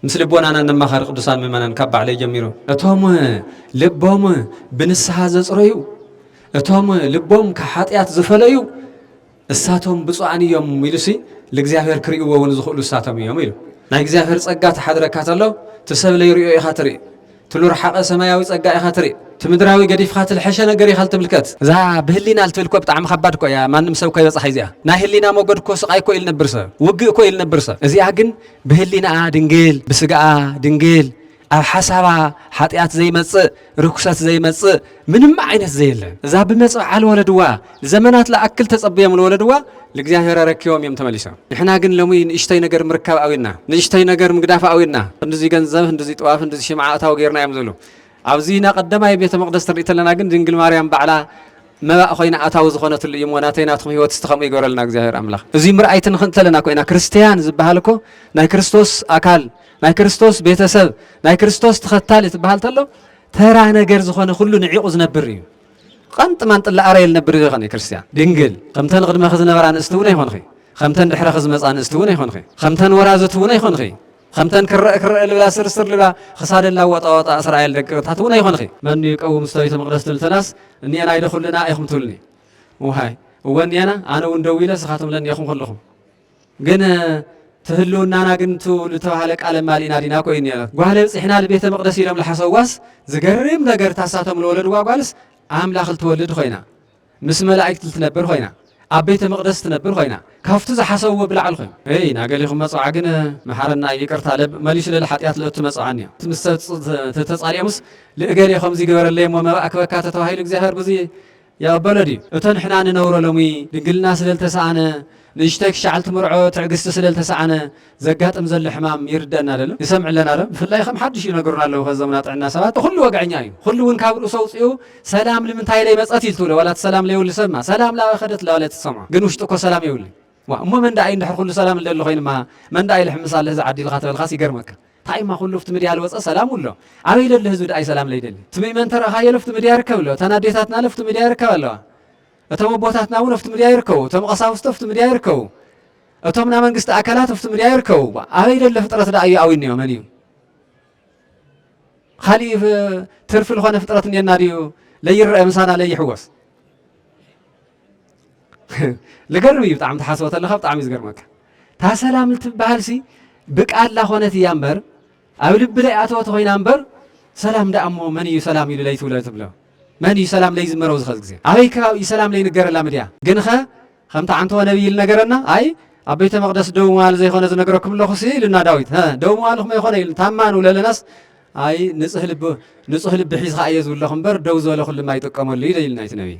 ምስ ልቦናና ነማኸር ቅዱሳን ምእመናን ካብ ባዕለይ ጀሚሩ። እቶም ልቦም ብንስሓ ዘጽረዩ እቶም ልቦም ካብ ሓጢኣት ዝፈለዩ እሳቶም ብፁዓን እዮም ኢሉሲ ልእግዚኣብሔር ክርእይዎ እውን ዝኽእሉ እሳቶም እዮም ኢሉ ናይ እግዚኣብሔር ጸጋ ተሓድረካ ተሎ እቲ ሰብ ለይሪኦ ኢኻ ትርኢ ትሉርሓቐ ሰማያዊ ጸጋ ኢኻ ትርኢ ትምድራዊ ገዲፍኻ ትልሐሸ ነገር ኢኻ ልትምልከት። እዛ ብህሊና ልትብል እኮ ብጣዕሚ ከባድ እኮ እያ ማንም ሰብ እኮ ኣይበጽሓ እዚኣ ናይ ህሊና ሞገድ እኮ ስቃይ እኮ እዩ ልነብር ሰብ ውግእ እኮ እዩ ልነብር ሰብ እዚኣ ግን ብህሊናኣ ድንግል ብስጋኣ ድንግል ኣብ ሓሳባ ሓጢኣት ዘይመጽእ ርኩሰት ዘይመጽእ ምንም ዓይነት ዘየለ እዛ ብመጸብዓ ልወለድዋ ዘመናት ልኣክል ተጸብዮም ልወለድዋ ልእግዚኣብሔር ኣረኪቦም እዮም ተመሊሶም። ንሕና ግን ሎሚ ንእሽተይ ነገር ምርካብ ኣውዩና፣ ንእሽተይ ነገር ምግዳፍ ኣውዩና። ክንድዚ ገንዘብ፣ ክንድዚ ጥዋፍ፣ ክንድዚ ሽምዓ እታው ጌርና እዮም ዝብሉ። ኣብዚ ና ቀደማይ ቤተ መቕደስ ትርኢ ተለና ግን ድንግል ማርያም ባዕላ መባእ ኮይና ኣታዊ ዝኾነትሉ እዩ እሞ ናተይ ናትኩም ህይወት እስቲ ከምኡ ይገበረልና እግዚኣብሔር ኣምላኽ። እዚ ምርኣይ ትንኽን ተለና ኮይና ክርስትያን ዝበሃል እኮ ናይ ክርስቶስ ኣካል ናይ ክርስቶስ ቤተሰብ ናይ ክርስቶስ ተኸታሊ ትበሃል ተሎ ተራ ነገር ዝኾነ ኩሉ ንዒቑ ዝነብር እዩ። ቐንጥ ማንጥ ለኣረየ ልነብር ዶ ይኸን ክርስትያን? ድንግል ከምተን ቕድመኺ ዝነበራ ኣንእስቲ እውን ኣይኮንኺ፣ ከምተን ድሕረኺ ዝመፃ ኣንእስቲ እውን ኣይኮንኺ፣ ከምተን ወራዝት እውን ኣይኮንኺ፣ ከምተን ክረእ ክረእ ልብላ ስርስር ልብላ ኽሳደን ላወጣ ወጣ እስራኤል ደቂ ቕታት እውን ኣይኮንኺ። መኑ ይቀውም ውስተ ቤተ መቕደስ ትብል ተላስ እኒኤና ኢለ ኩልና ኢኹም ትብልኒ። ውሃይ እወ እኒኤና ኣነ እውን ደው ኢለ ስኻትም ለኒኤኹም ኩልኹም። ግን እቲ ህልውናና ግን እቱ ልተባህለ ቃለ ማሊና ዲና ኮይኑ ነይረ ጓህለ ብፅሕና ልቤተ መቅደስ ኢሎም ልሓሰዋስ ዝገርም ነገር ታሳቶም ልወለድዋ ጓልስ ኣምላኽ ልትወልድ ኮይና ምስ መላእክት ልትነብር ኮይና ኣብ ቤተ መቅደስ ትነብር ኮይና ካብቱ ዝሓሰብዎ ብላዕል ኮይኑ ይ ናገሊኹም መፅዓ ግን መሓረና ይቅርታ መሊሱ ልል ሓጢኣት ልእቱ መፅዓን እዮ ምስ ተፃሊኦምስ ልእገሌ ከምዚ ግበረለይ እሞ መባእ ክበካ ተተባሂሉ እግዚኣብሔር ብዙ ይቕበሎ ድዩ? እቶ ንሕና ንነብሮ ሎሚ ድንግልና ስለ ልተሳእነ፣ ንእሽቶይ ክሻዕል ትምርዖ ትዕግስቲ ስለ ልተሳእነ ዘጋጥም ዘሎ ሕማም ይርደኣና ዶ ኣሎ? ንሰምዕ ኣለና ዶ? ብፍላይ ከም ሓዱሽ ይነግሩና ኣለዉ ከዞም ናጥዕና ሰባት ንኹሉ ወግዐኛ እዩ። ንኹሉ እውን ካብ ርእሱ ኣውጺኡ ሰላም ልምንታይ ለይመጸት ኢዩ ልትብሎ ዋላ እቲ ሰላም ለይብሉ ሰብማ ሰላም ልኣበ ከደት ለባለ እቲ ትሰምዖ ግን ውሽጡ እኮ ሰላም የብሉይ። ዋእ እሞ መን ደኣ እዩ እንድሕር ኩሉ ሰላም እልለ ኮይኑ እማ መን ደኣ እዩ ልሕምስ ኣለ እዚ ዓዲ ኢልካ ተበልካስ ይገርመካ እንታይ እማ ኩሉ ኣብቲ ምድያ ልወፀ ሰላም እሎ ኣበይ ለሎ ህዝቢ ደኣ ሰላም ለይደሊ እቲ ምእመን ተረእኻዮ ለፍቲ ምድያ ይርከብ ኣሎ እተን ኣዴታትና ለፍቲ ምድያ ይርከብ ኣለዋ እቶም ኣቦታትና እውን ኣብቲ ምድያ ይርከቡ እቶም ቀሳውስቲ ኣብቲ ምድያ ይርከቡ እቶም ናይ መንግስቲ ኣካላት ኣብቲ ምድያ ይርከቡ ኣበይ ለሎ ፍጥረት ደኣ እዩ ኣዊኒዮ መን እዩ ካሊእ ትርፊ ዝኾነ ፍጥረት እኔና ድዩ ለይረአ ምሳና ለይሕወስ ልገርም እዩ ብጣዕሚ ትሓስቦ ተለካ ብጣዕሚ እዩ ዝገርመካ እታ ሰላም ልትበሃልሲ ብቃላ ኮነት እያ እምበር ኣብ ልቢ ለይ ኣተወት ኮይና እምበር ሰላም ደኣ እሞ መን እዩ ሰላም ኢሉ ለይ ትብሎ ትብሎ መን እዩ ሰላም ለይ ዝመረው ዝኸዝ ግዜ ኣበይ ከባቢ እዩ ሰላም ለይ ንገረላ ምድያ ግን ኸ ከምቲ ዓንተወ ነብይ ልነገረና ኣይ ኣብ ቤተ መቅደስ ደው መዋል ዘይኮነ ዝነገረኩም ኣለኹ ሲ ኢሉና ዳዊት ደው መዋል ኹመ ይኮነ ኢሉ ታማ ንብለለናስ ኣይ ንጹህ ልቢ ንጹህ ልቢ ሒዝካ እየ ዝብለኹ እምበር ደው ዝበለ ኩሉ ማይጥቀመሉ እዩ ኢልና እቲ ነብይ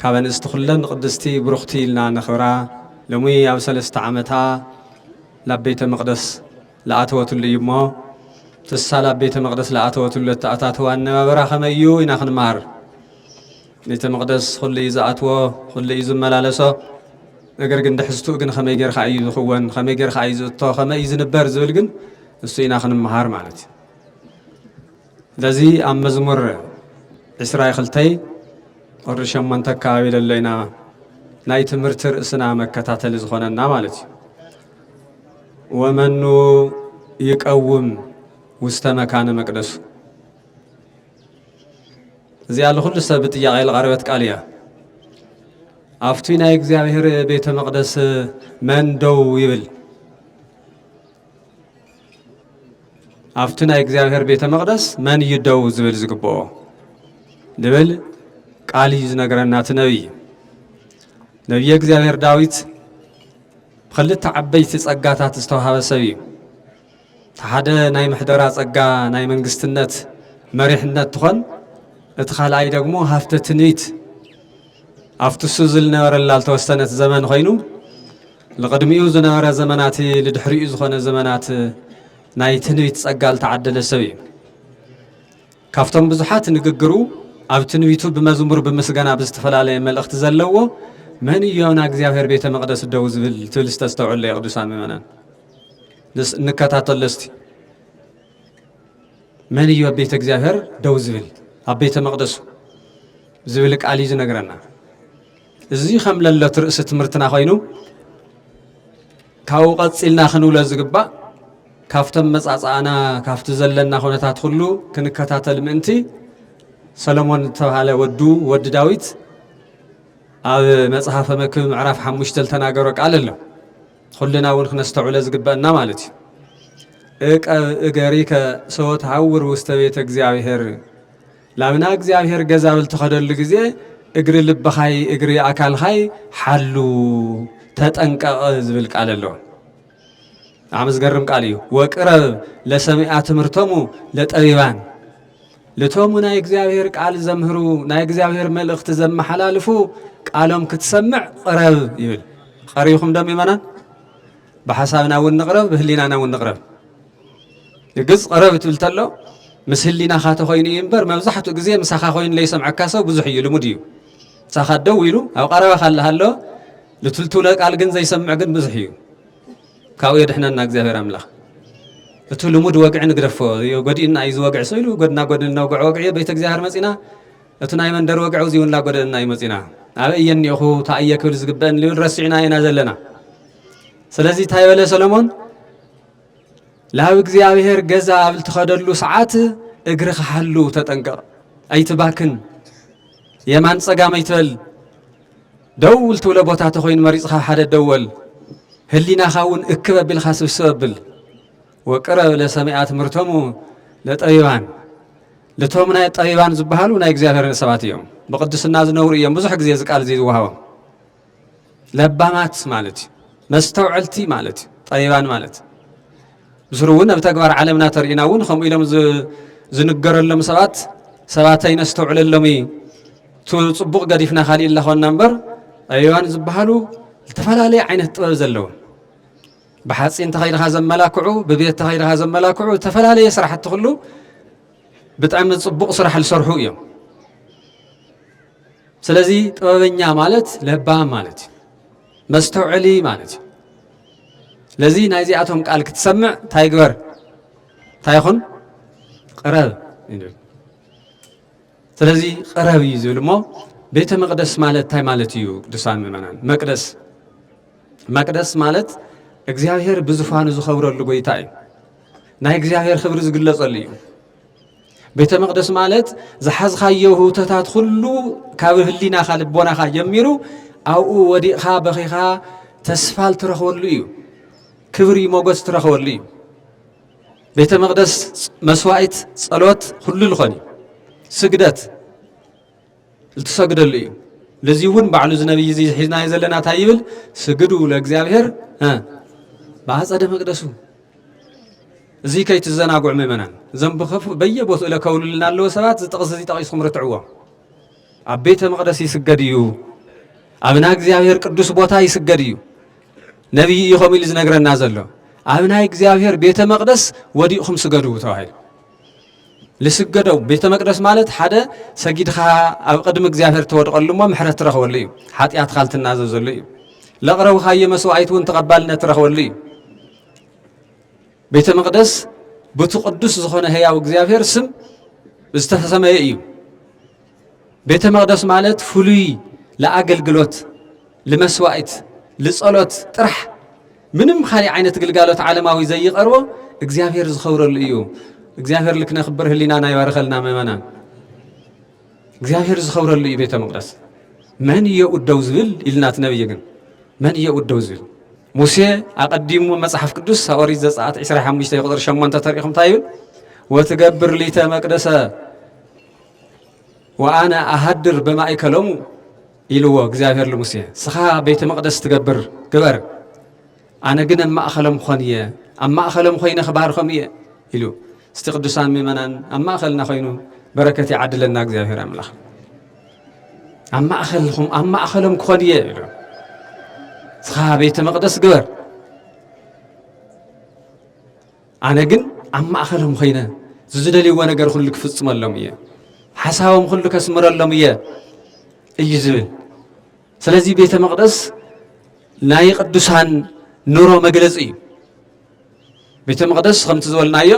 ካብ ኣንስቲ ኩለን ቅድስቲ ብሩኽቲ ኢልና ነኽብራ ሎሚ ኣብ ሰለስተ ዓመታ ላብ ቤተ መቅደስ ልኣተወትሉ እዩ እሞ ትሳ ላብ ቤተ መቅደስ ልኣተወትሉ ኣተኣታትዋ ኣነባበራ ከመይ እዩ ኢና ክንምሃር ቤተ መቅደስ ኩሉ እዩ ዝኣትዎ ኩሉ እዩ ዝመላለሶ ነገር ግን ድሕዝትኡ ግን ከመይ ጌርካ እዩ ዝኽወን ከመይ ጌርካ እዩ ዝእቶ ከመይ እዩ ዝንበር ዝብል ግን እሱ ኢና ክንምሃር ማለት እዩ ስለዚ ኣብ መዝሙር ዕስራይ ክልተይ ቁሪ ሸሞንተ ኣከባቢ ደሎ ኢና ናይ ትምህርቲ ርእስና መከታተሊ ዝኾነና ማለት እዩ ወመኑ ይቀውም ውስተ መካነ መቅደሱ እዚኣ ንኩሉ ሰብ ብጥያቄ ዝቐረበት ቃል እያ። ኣብቲ ናይ እግዚኣብሔር ቤተ መቅደስ መን ደው ይብል? ኣብቲ ናይ እግዚኣብሔር ቤተ መቕደስ መን እዩ ደው ዝብል ዝግብኦ ልብል ቃል እዩ ዝነገረና እቲ ነቢይ ነቢየ እግዚኣብሔር ዳዊት ብክልተ ዓበይቲ ጸጋታት ዝተዋሃበ ሰብ እዩ እቲ ሓደ ናይ ምሕደራ ጸጋ ናይ መንግስትነት መሪሕነት ትኾን እቲ ካልኣይ ደግሞ ሃፍተ ትንቢት ኣብቲ እሱ ዝነበረላ ዝተወሰነት ዘመን ኮይኑ ንቕድሚኡ ዝነበረ ዘመናት ንድሕሪኡ ዝኾነ ዘመናት ናይ ትንቢት ጸጋ ዝተዓደለ ሰብ እዩ። ካብቶም ብዙሓት ንግግሩ ኣብ ትንቢቱ ብመዝሙር ብምስጋና ብዝተፈላለየ መልእኽቲ ዘለዎ መን እዩ ኣብና እግዚኣብሔር ቤተ መቅደስ ደው ዝብል ትብል ዝተስተውዕለ የቅዱሳን ምእመናን እንከታተሎ እስቲ መን እዩ ኣብ ቤተ እግዚኣብሔር ደው ዝብል ኣብ ቤተ መቅደሱ ዝብል ቃል እዩ ዝነግረና እዚ ከም ለለት ርእሲ ትምህርትና ኮይኑ ካብኡ ቀፂልና ክንብሎ ዝግባእ ካብቶም መፃፃእና ካብቲ ዘለና ኩነታት ኩሉ ክንከታተል ምእንቲ ሰለሞን ዝተባሃለ ወዱ ወዲ ዳዊት ኣብ መጽሐፈ መክብብ ምዕራፍ ሓሙሽተ ዝተናገሮ ቃል ኣሎ ኩልና እውን ክነስተውዕለ ዝግበአና ማለት እዩ እቀብ እገሪከ ሰወት ሃውር ውስተ ቤተ እግዚኣብሔር ላብ ና እግዚኣብሔር ገዛ ብ ልትኸደሉ ግዜ እግሪ ልብኻይ እግሪ ኣካልኻይ ሓሉ ተጠንቀቕ ዝብል ቃል ኣሎ ብጣዕሚ ዝገርም ቃል እዩ ወቅረብ ለሰሚኣ ትምህርቶሙ ለጠቢባን ልቶሙ ናይ እግዚኣብሔር ቃል ዘምህሩ ናይ እግዚኣብሔር መልእኽቲ ዘመሓላልፉ ቃሎም ክትሰምዕ ቕረብ ይብል ቐሪኹም ደም ይመናን ብሓሳብና እውን ንቕረብ ብህሊናና እውን ንቕረብ ርግጽ ቐረብ ትብል ተሎ ምስ ህሊናኻ ተኾይኑ እዩ እምበር መብዛሕትኡ ግዜ ምሳኻ ኮይኑ ለይሰምዐካ ሰው ብዙሕ እዩ ልሙድ እዩ ምሳኻ ደው ኢሉ ኣብ ቐረባኻ ኣለሃሎ ልትልትውለ ቃል ግን ዘይሰምዕ ግን ብዙሕ እዩ ካብኡ የድሕነና እግዚኣብሔር ኣምላኽ እቲ ልሙድ ወግዒ ንግደፎ ጎዲእና እዩ ዝወግዒ ሰው ኢሉ ጎድና ጎድኒ ነውግዖ ወግዒ እዩ ቤተ እግዚኣብሔር መፂና እቲ ናይ መንደር ወግዒ እዚኡ እውን ላጎደእና እዩ መፂና ኣበይ እየ እኒኦኹ እንታይ እየ ክብል ዝግበአኒ ልብል ረሲዕና ኢና ዘለና ስለዚ እንታይ በለ ሰሎሞን ላብ እግዚኣብሔር ገዛ ኣብ ልትኸደሉ ሰዓት እግሪ ክሓሉ ተጠንቀቕ ኣይትባክን የማን ጸጋም ኣይትበል ደው ልትብሎ ቦታ ተኾይኑ መሪጽኻ ሓደ ደወል ህሊናኻ እውን እክብ ኣቢልካ ስብስብ ኣብል ወቅረብ ለሰሚኣ ትምህርቶሙ ለጠቢባን ልቶም ናይ ጠቢባን ዝበሃሉ ናይ እግዚኣብሔርን ሰባት እዮም ብቅድስና ዝነብሩ እዮም ብዙሕ ግዜ ዝቃል እዚ ዝወሃቦም ለባማት ማለት እዩ መስተውዐልቲ ማለት እዩ ጠቢባን ማለት ብስሩ እውን ኣብ ተግባር ዓለምና ተርእና እውን ከምኡ ኢሎም ዝንገረሎም ሰባት ሰባት ኣይነስተውዕለሎም እዩ ፅቡቕ ገዲፍና ካሊእ ኣለኾና እምበር ጠቢባን ዝበሃሉ ዝተፈላለየ ዓይነት ጥበብ ዘለዎ ብሓፂን ተኸይድኻ ዘመላክዑ ብቤት ተኸይድኻ ዘመላክዑ ዝተፈላለየ ስራሕቲ ኩሉ ብጣዕሚ ፅቡቕ ስራሕ ዝሰርሑ እዮም ስለዚ ጥበበኛ ማለት ለባም ማለት እዩ መስተውዕሊ ማለት እዩ ለዚ ናይዚኣቶም ቃል ክትሰምዕ እንታይ ግበር እንታይ ይኹን ቅረብ ይብል ስለዚ ቅረብ እዩ ዝብል እሞ ቤተ መቅደስ ማለት እንታይ ማለት እዩ ቅዱሳን ምእመናን መቅደስ መቅደስ ማለት እግዚኣብሔር ብዙፋኑ ዝኸብረሉ ጎይታ እዩ ናይ እግዚኣብሔር ክብሪ ዝግለጸሉ እዩ ቤተ መቕደስ ማለት ዝሓዝካዮ ህውተታት ኩሉ ካብ ህሊናኻ ልቦናኻ ጀሚሩ ኣብኡ ወዲቕኻ በኺኻ ተስፋል ትረኽበሉ እዩ ክብሪ ሞገስ ትረኽበሉ እዩ ቤተ መቕደስ መስዋኢት ጸሎት ኩሉ ዝኾን እዩ ስግደት ልትሰግደሉ እዩ ለዚ እውን ባዕሉ እዚ ነብይ እዚ ሒዝናዮ ዘለና እንታይ ይብል ስግዱ ለእግዚኣብሔር ብኣፀደ መቅደሱ እዚ ከይትዘናጉዕ ምእመናን እዞም ብከፉ በየቦትኡ ለከውልልና ኣለዎ ሰባት እዚ ጥቕሲ እዚ ጠቒስኩም ርትዕዎ ኣብ ቤተ መቅደስ ይስገድ እዩ ኣብና እግዚኣብሔር ቅዱስ ቦታ ይስገድ እዩ ነቢይ እዩ ከምኡ ኢሉ ዝነግረና ዘሎ ኣብ ናይ እግዚኣብሔር ቤተ መቅደስ ወዲቕኩም ስገዱ ተባሂሉ ልስገደው ቤተ መቅደስ ማለት ሓደ ሰጊድኻ ኣብ ቅድሚ እግዚኣብሔር ተወድቐሉ እሞ ምሕረት ትረኽበሉ እዩ ሓጢኣትካ ልትናዘዘሉ እዩ ለቕረብኻዮ መስዋዕት እውን ተቐባልነት ትረኽበሉ እዩ ቤተ መቅደስ ብቲ ቅዱስ ዝኾነ ህያው እግዚኣብሔር ስም ዝተሰመየ እዩ ቤተ መቅደስ ማለት ፍሉይ ለኣገልግሎት ልመስዋእት ልጸሎት ጥራሕ ምንም ካሊእ ዓይነት ግልጋሎት ዓለማዊ ዘይቐርቦ እግዚኣብሔር ዝኸብረሉ እዩ እግዚኣብሔር ልክነክብር ህሊናና ይባርኸልና መመናን እግዚኣብሔር ዝኸብረሉ እዩ ቤተ መቅደስ መን እዮ ደው ዝብል ኢልና እቲ ነብይ ግን መን እዮ ደው ዝብል ሙሴ ኣቐዲሙ መጽሓፍ ቅዱስ ኦሪት ዘጸኣት 25 ቁጥሪ 8 ተሪኢኹም እንታይ ይብል ወትገብር ሊተ መቅደሰ ወኣነ ኣሃድር በማእከሎሙ ኢልዎ እግዚኣብሔር ልሙሴ ስኻ ቤተ መቕደስ ትገብር ግበር ኣነ ግን ኣብ ማእኸሎም ክኾን እየ ኣብ ማእኸሎም ኮይነ ክባርኸም እየ ኢሉ እስቲ ቅዱሳን ምእመናን ኣብ ማእኸልና ኮይኑ በረከት ይዓድለና እግዚኣብሔር ኣምላኽ ኣብ ማእኸልኹም ኣብ ማእኸሎም ክኾን እየ ኢሉ ስኻ ቤተ መቕደስ ግበር ኣነ ግን ኣብ ማእኸሎም ኾይነ ዝዝደልይዎ ነገር ኩሉ ክፍፅመሎም እየ፣ ሓሳቦም ኩሉ ከስምረሎም እየ እዩ ዝብል። ስለዚ ቤተ መቕደስ ናይ ቅዱሳን ኑሮ መግለፂ እዩ። ቤተ መቕደስ ከምቲ ዝበልናዮ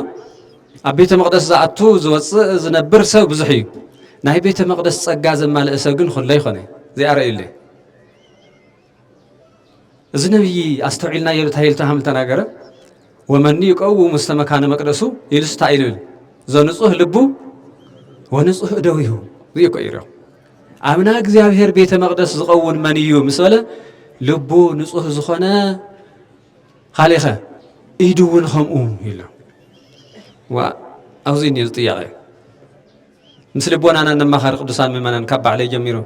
ኣብ ቤተ መቕደስ ዝኣቱ ዝወፅእ ዝነብር ሰብ ብዙሕ እዩ። ናይ ቤተ መቕደስ ጸጋ ዘማልእ ሰብ ግን ኩሎ ይኾነ እዚኣ ረእዩለይ እዚ ነብዪ ኣስተውዒልናዮ እንታይ ኢሉ ተሃምል ተናገረ ወመኒ ይቀውም ውስተ መካነ መቅደሱ ኢሉስ እንታይ ኢሉ ዘንጹህ ልቡ ወንጹህ እደዊሁ እዚ እኮ እዩ ኣብና እግዚኣብሔር ቤተ መቅደስ ዝኸውን መን እዩ ምስ በለ ልቡ ንጹህ ዝኾነ ካሊኸ ኢዱ እውን ከምኡ ኢሉ ኣብዚ እኒኦ ጥያቄ ምስ ልቦናና ነማኻሪ ቅዱሳን ምእመናን ካብ ባዕለይ ጀሚሩ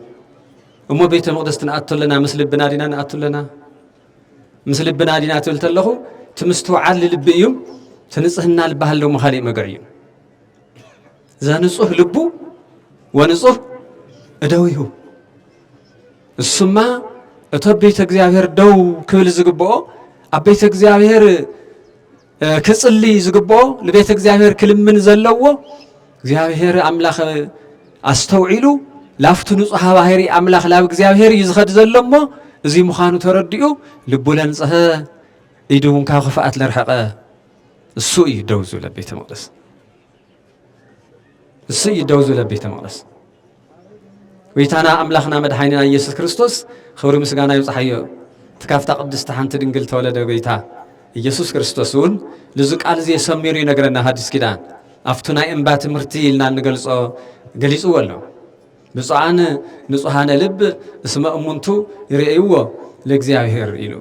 እሞ ቤተ መቕደስ ክንኣቱ ኣለና ምስ ልብና ዲና ንኣቱ ኣለና ምስ ልብና ዲና ትብል ተለኹ እቲ ምስትውዓል ልቢ እዩ እቲ ንፅህና ልበሃል ደሞ ካሊእ መግዕ እዩ ዘንፁህ ልቡ ወንፁህ እደዊሁ እሱማ እቶ ቤተ እግዚኣብሔር ደው ክብል ዝግብኦ ኣብ ቤተ እግዚኣብሔር ክጽልይ ዝግብኦ ንቤተ እግዚኣብሔር ክልምን ዘለዎ እግዚኣብሔር ኣምላኽ ኣስተውዒሉ ላፍቲ ንጹሃ ባህሪ ኣምላኽ ላብ እግዚኣብሔር እዩ ዝኸድ ዘሎ እሞ እዚ ምዃኑ ተረዲኡ ልቡ ለንጽሀ ኢዱ እውን ካብ ክፍኣት ለርሐቐ እሱ እዩ ደው ዝብለ ቤተ መቅደስ እሱ እዩ ደው ዝብለ ቤተ መቅደስ ጎይታና ኣምላኽና መድሓኒና ኢየሱስ ክርስቶስ ኽብሪ ምስጋና ይብጽሓዮ እቲ ካብታ ቅድስቲ ሓንቲ ድንግል ተወለደ ጎይታ ኢየሱስ ክርስቶስ እውን ልዚ ቃል እዚ የሰሚሩ ይነግረና ሃዲስ ኪዳን ኣብቱ ናይ እምባ ትምህርቲ ኢልና እንገልጾ ገሊጽዎ ኣሎ ብፁዓን ንጹሃነ ልብ እስመ እሙንቱ ይርእይዎ ለእግዚኣብሔር ኢሉ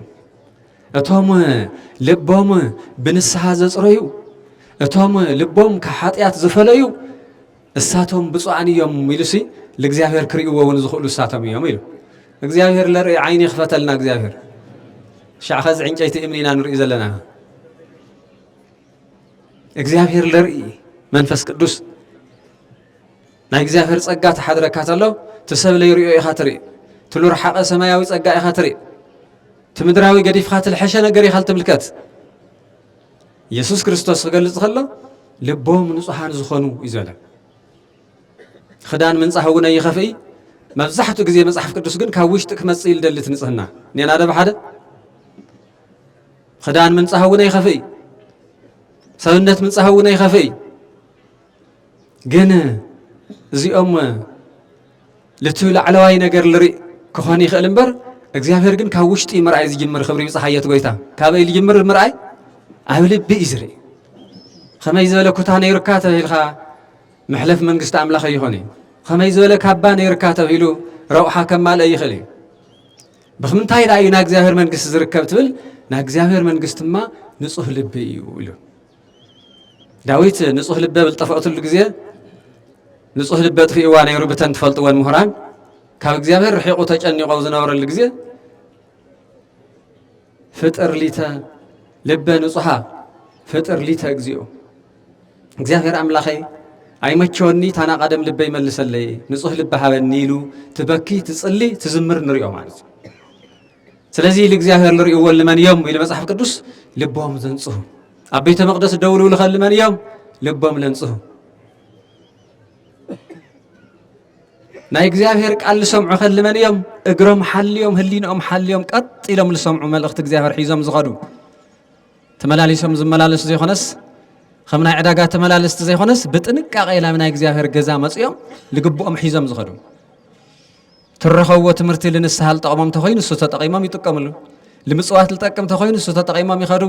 እቶም ልቦም ብንስሓ ዘጽረዩ እቶም ልቦም ካብ ሓጢኣት ዝፈለዩ እሳቶም ብፁዓን እዮም ኢሉሲ ልእግዚኣብሔር ክርእይዎ እውን ዝኽእሉ እሳቶም እዮም ኢሉ እግዚኣብሔር ለርኢ ዓይኒ ይኽፈተልና እግዚኣብሔር ሻዕ ኸዚ ዕንጨይቲ እምኒ ኢና ንርኢ ዘለና እግዚኣብሔር ለርኢ መንፈስ ቅዱስ ናይ እግዚኣብሔር ጸጋ ተሓድረካ ተሎ ትሰብ ለይሪኦ ኢኻ ትርኢ ትሉ ርሓቐ ሰማያዊ ጸጋ ኢኻ ትርኢ ትምድራዊ ገዲፍካ ትልሐሸ ነገር ኢኻ ልትምልከት የሱስ ክርስቶስ ክገልጽ ከሎ ልቦም ንጹሃን ዝኾኑ እዩ ዝበለ ክዳን ምንጻህ እውን ኣይኸፍኢ መብዛሕትኡ ግዜ መጽሓፍ ቅዱስ ግን ካብ ውሽጢ ክመጽእ ኢሉ ደሊ እቲ ንጽህና ኔና ደ ብሓደ ክዳን ምንጻህ እውን ኣይኸፍኢ ሰብነት ምንጻህ እውን ኣይኸፍኢ ግን እዚኦም ልቲ ላዕለዋይ ነገር ልሪእ ክኾን ይኽእል እምበር እግዚኣብሔር ግን ካብ ውሽጢ ምርኣይ ዝጅምር ክብሪ ብፀሓየት ጎይታ ካበይ ዝጅምር ምርኣይ ኣብ ልቢ እዩ ዝርኢ ከመይ ዝበለ ኩታ ነይሩካ ተብሂልካ መሕለፍ መንግስቲ ኣምላኸ ይኾን እዩ ከመይ ዝበለ ካባ ነይሩካ ተብሂሉ ረብሓ ከማልአ ይኽእል እዩ ብክምንታይ ዳእዩ ናብ እግዚኣብሔር መንግስቲ ዝርከብ ትብል ናብ እግዚኣብሔር መንግስቲ ድማ ንፁህ ልቢ እዩ ኢሉ ዳዊት ንጹህ ልበ ብልጠፍኦትሉ ግዜ ንጹህ ልበ ትርእይዋ ነይሩ ብተን ትፈልጥወን ምሁራን ካብ እግዚኣብሔር ርሒቑ ተጨኒቆ ዝነበረሉ ግዜ ፍጥር ሊተ ልበ ንጹሃ ፍጥር ሊተ እግዚኦ እግዚኣብሔር ኣምላኸይ ኣይመቸወኒ ታናቃደም ልበ ይመልሰለይ ንጹህ ልበ ሃበኒ ኢሉ ትበኪ ትጽሊ ትዝምር ንሪኦ ማለት እዩ ስለዚ ልእግዚኣብሔር ልርእዎ ልመን እዮም ኢሉ መጽሓፍ ቅዱስ ልቦም ዘንጽሁ ኣብ ቤተ መቅደስ ደው ልብሉ ከልመን እዮም ልቦም ለንጽሁ ናይ እግዚኣብሔር ቃል ዝሰምዑ ከልመን እዮም እግሮም ሓልዮም ህሊንኦም ሓልዮም ቀጥ ኢሎም ዝሰምዑ መልእኽቲ እግዚኣብሔር ሒዞም ዝኸዱ ተመላሊሶም ዝመላለሱ ዘይኮነስ ከም ናይ ዕዳጋ ተመላለስቲ ዘይኮነስ ብጥንቃቄ ናብ ናይ እግዚኣብሔር ገዛ መፅኦም ልግብኦም ሒዞም ዝኸዱ ትረኸብዎ ትምህርቲ ልንስሃ ልጠቕሞም ተኾይኑ እሱ ተጠቒሞም ይጥቀምሉ ልምፅዋት ልጠቅም ተኾይኑ እሱ ተጠቒሞም ይኸዱ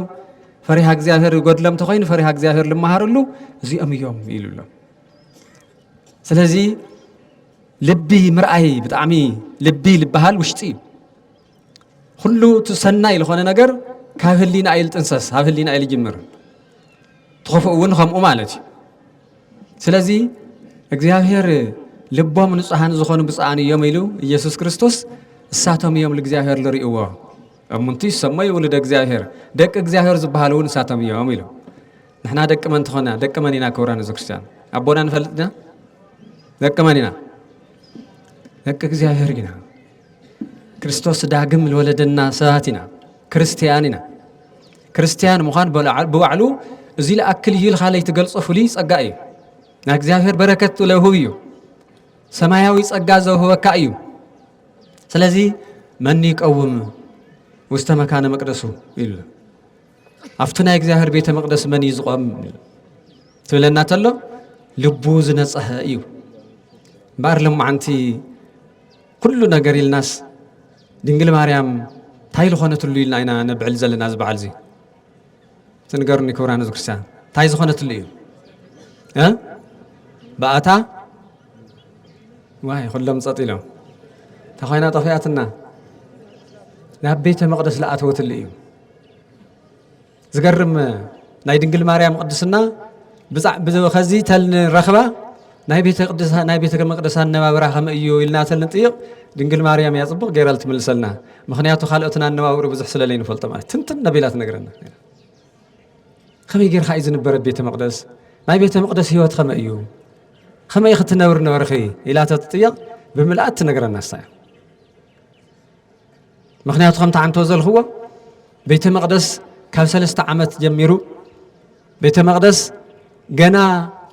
ፈሪሃ እግዚኣብሔር ይጎድሎም ተኾይኑ ፈሪሃ እግዚኣብሔር ልመሃርሉ እዚኦም እዮም ኢሉ ኣሎ ስለዚ ልቢ ምርኣይ ብጣዕሚ ልቢ ልበሃል ውሽጢ እዩ ኩሉ እቲ ሰናይ ዝኾነ ነገር ካብ ህሊና እዩ ዝጥንሰስ ኣብ ህሊና እዩ ዝጅምር ትኸፍኡ እውን ከምኡ ማለት እዩ ስለዚ እግዚኣብሔር ልቦም ንጹሃን ዝኾኑ ብፅኣን እዮም ኢሉ ኢየሱስ ክርስቶስ እሳቶም እዮም ልእግዚኣብሔር ልርእዎ እሙንቲ ይሰመዩ ውሉደ እግዚኣብሔር ደቂ እግዚኣብሔር ዝበሃሉ እውን እሳቶም እዮም ኢሉ ንሕና ደቂ መን ትኾና ደቂ መን ኢና ክብራን እዚ ክርስትያን ኣቦና ንፈልጥ ኢና ደቂ መን ኢና ደቂ እግዚኣብሔር ኢና ክርስቶስ ዳግም ዝወለደና ሰባት ኢና፣ ክርስትያን ኢና። ክርስትያን ምዃን ብባዕሉ እዚ ለኣክል እዩ ኢልካ ለይትገልጾ ፍሉይ ጸጋ እዩ። ናይ እግዚኣብሔር በረከት ለውህብ እዩ። ሰማያዊ ጸጋ ዘውህበካ እዩ። ስለዚ መን ይቀውም ውስተ መካነ መቅደሱ ይብሉ ኣብቲ ናይ እግዚኣብሔር ቤተ መቅደስ መን እዩ ዝቆም ትብለና ተሎ ልቡ ዝነጸሀ እዩ እምበኣር ሎማዓንቲ ኩሉ ነገር ኢልናስ ድንግል ማርያም ታይ ልኾነትሉ ኢልና ኢና ነብዕል ዘለና እዚ በዓል እዚ ትንገሩኒ ክብራን ህዝቢ ክርስቲያን ታይ ዝኾነትሉ እዩ ብኣታ ዋይ ኩሎም ፀጥ ኢሎም ተኾይና ጠፊኣትና ናብ ቤተ መቕደስ ልኣተወትሉ እዩ ዝገርም ናይ ድንግል ማርያም ቅድስና ከዚ ተልንረኽባ ናይ ቤተ መቅደሳ ኣነባብራ ከመ እዩ ኢልና ተልንጥይቕ ድንግል ማርያም እያ ፅቡቕ ገይራ ልትምልሰልና ምክንያቱ ካልኦትን ኣነባብሩ ብዙሕ ስለለይ ንፈልጦ ማለት ትንትን ነቢላ ትነግረና ከመይ ጌርካ እዩ ዝንበረ ቤተ መቅደስ ናይ ቤተ መቅደስ ህይወት ከመ እዩ ከመይ ክትነብር ነበርኺ ኢላ ተትጥየቕ ብምልኣት ትነግረና ሳያ ምክንያቱ ከምቲ ዓንቶ ዘልክዎ ቤተ መቅደስ ካብ ሰለስተ ዓመት ጀሚሩ ቤተ መቅደስ ገና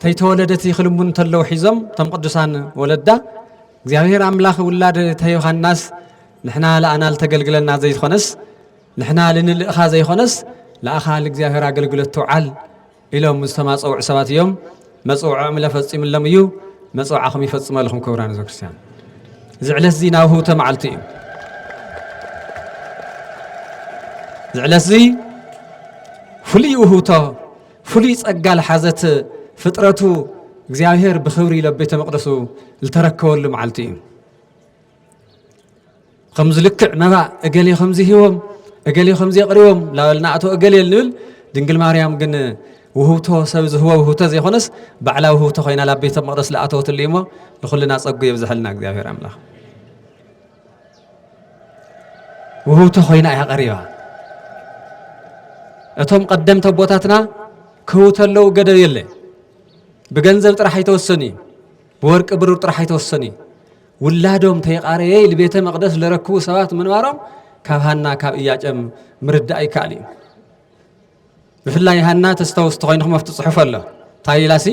ተይተወለደት ይክልሙ እንተለው ሒዞም እቶም ቅዱሳን ወለዳ እግዚኣብሔር ኣምላኽ ውላድ ተዮሃናስ ንሕና ለኣና ልተገልግለና ዘይኮነስ ንሕና ልንልእኻ ዘይኮነስ ለኣኻ ልእግዚኣብሔር ኣገልግሎት ትውዓል ኢሎም ዝተማፀውዑ ሰባት እዮም። መፅውዖኦም እለ ፈፂምሎም እዩ። መፅውዓኹም ይፈፅመልኹም ክብራን ህዝበ ክርስቲያን እዚ ዕለት እዚ ናብ ህውተ መዓልቲ እዩ። እዚ ዕለት እዚ ፍሉይ ውህውቶ ፍሉይ ጸጋ ዝሓዘት ፍጥረቱ እግዚኣብሔር ብኽብሪ ኢሎ ቤተ መቕደሱ ዝተረከበሉ መዓልቲ እዩ። ከምዚ ልክዕ መባእ እገሌ ከምዚ ሂቦም እገሌ ከምዚ የቕሪቦም ላበልና ኣቶ እገሌ ንብል ድንግል ማርያም ግን ውህብቶ ሰብ ዝህቦ ውህብቶ ዘይኮነስ ባዕላ ውህብቶ ኮይና ላብ ቤተ መቕደስ ዝኣተወትሉ እዩሞ ንኹልና ጸጉ የብዝሐልና እግዚኣብሔር ኣምላኽ ውህብቶ ኮይና እያ ቀሪባ እቶም ቀደምቲ ኣቦታትና ክህቡ ተለዉ ገደብ የለ ብገንዘብ ጥራሕ ኣይተወሰኑ እዩ ብወርቂ ብሩር ጥራሕ ኣይተወሰኑ እዩ። ውላዶም ተይቃረየ ኢሉ ቤተ መቕደስ ለረክቡ ሰባት ምንባሮም ካብ ሃና ካብ እያጨም ምርዳእ ይከኣል እዩ። ብፍላይ ሃና ተስተውስ ተኮይንኹም ኣብቲ ፅሑፍ ኣሎ እንታይ ኢላሲ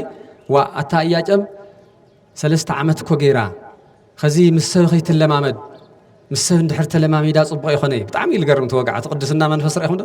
ዋ ኣታ እያጨም ሰለስተ ዓመት እኮ ገይራ ከዚ ምስ ሰብ ከይትለማመድ ምስ ሰብ እንድሕር ተለማሚዳ ፅቡቕ ይኾነ እዩ ብጣዕሚ እዩ ዝገርም ተወግዓ እቲ ቅድስና መንፈስ ረኢኹም ዶ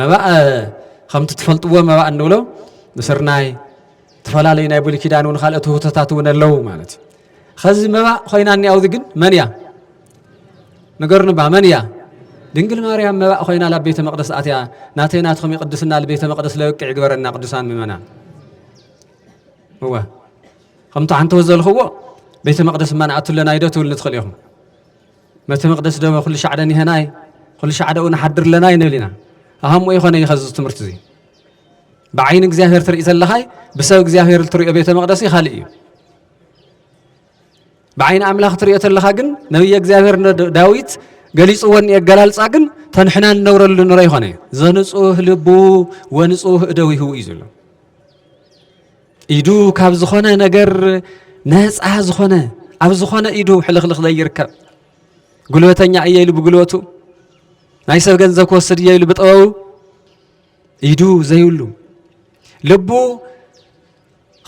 መባእ ከምቲ ትፈልጥዎ መባእ እንብሎ ንስርናይ ዝተፈላለዩ ናይ ብሉይ ኪዳን እውን ካልኦት ውህቶታት እውን ኣለዉ ማለት እዩ ከዚ መባእ ኮይና እኒኣውዚ ግን መን እያ ንገርንባ መን እያ ድንግል ማርያም መባእ ኮይና ላብ ቤተ መቅደስ ኣትያ ናተይ ናትኹም ይቅድስና ልቤተ መቅደስ ለበቅዕ ይግበረና ቅዱሳን ምእመናን እወ ከምቲ ሓንቲ ዘለኽዎ ቤተ መቅደስ እማ ንኣቱ ኣለና ኢዶ ትብል ንትኽእል ኢኹም መተ መቅደስ ደመ ኩሉ ሻዕደን ይሄናይ ኩሉ ሻዕደኡ ንሓድር ለና ይንብል ኢና ኣሃሞ ይኾነ ይኸ እዚ ትምህርቲ እዚ ብዓይኒ እግዚኣብሔር ትርኢ ዘለኻይ ብሰብ እግዚኣብሔር እትሪኦ ቤተ መቅደስ ካልእ እዩ ብዓይኒ ኣምላኽ ትሪኦ ተለኻ ግን ነብየ እግዚኣብሔር ዳዊት ገሊፅዎ ኣገላልፃ ግን ተንሕና ንነብረሉ ንረ ይኾነ ዘንፁህ ልቡ ወንፁህ እደዊሁ እዩ ዘሎ ኢዱ ካብ ዝኾነ ነገር ነፃ ዝኾነ ኣብ ዝኾነ ኢዱ ሕልኽልኽ ዘይርከብ ጉልበተኛ እየ ኢሉ ብጉልበቱ ናይ ሰብ ገንዘብ ክወስድ እየ ኢሉ ብጥበቡ ኢዱ ዘይብሉ ልቡ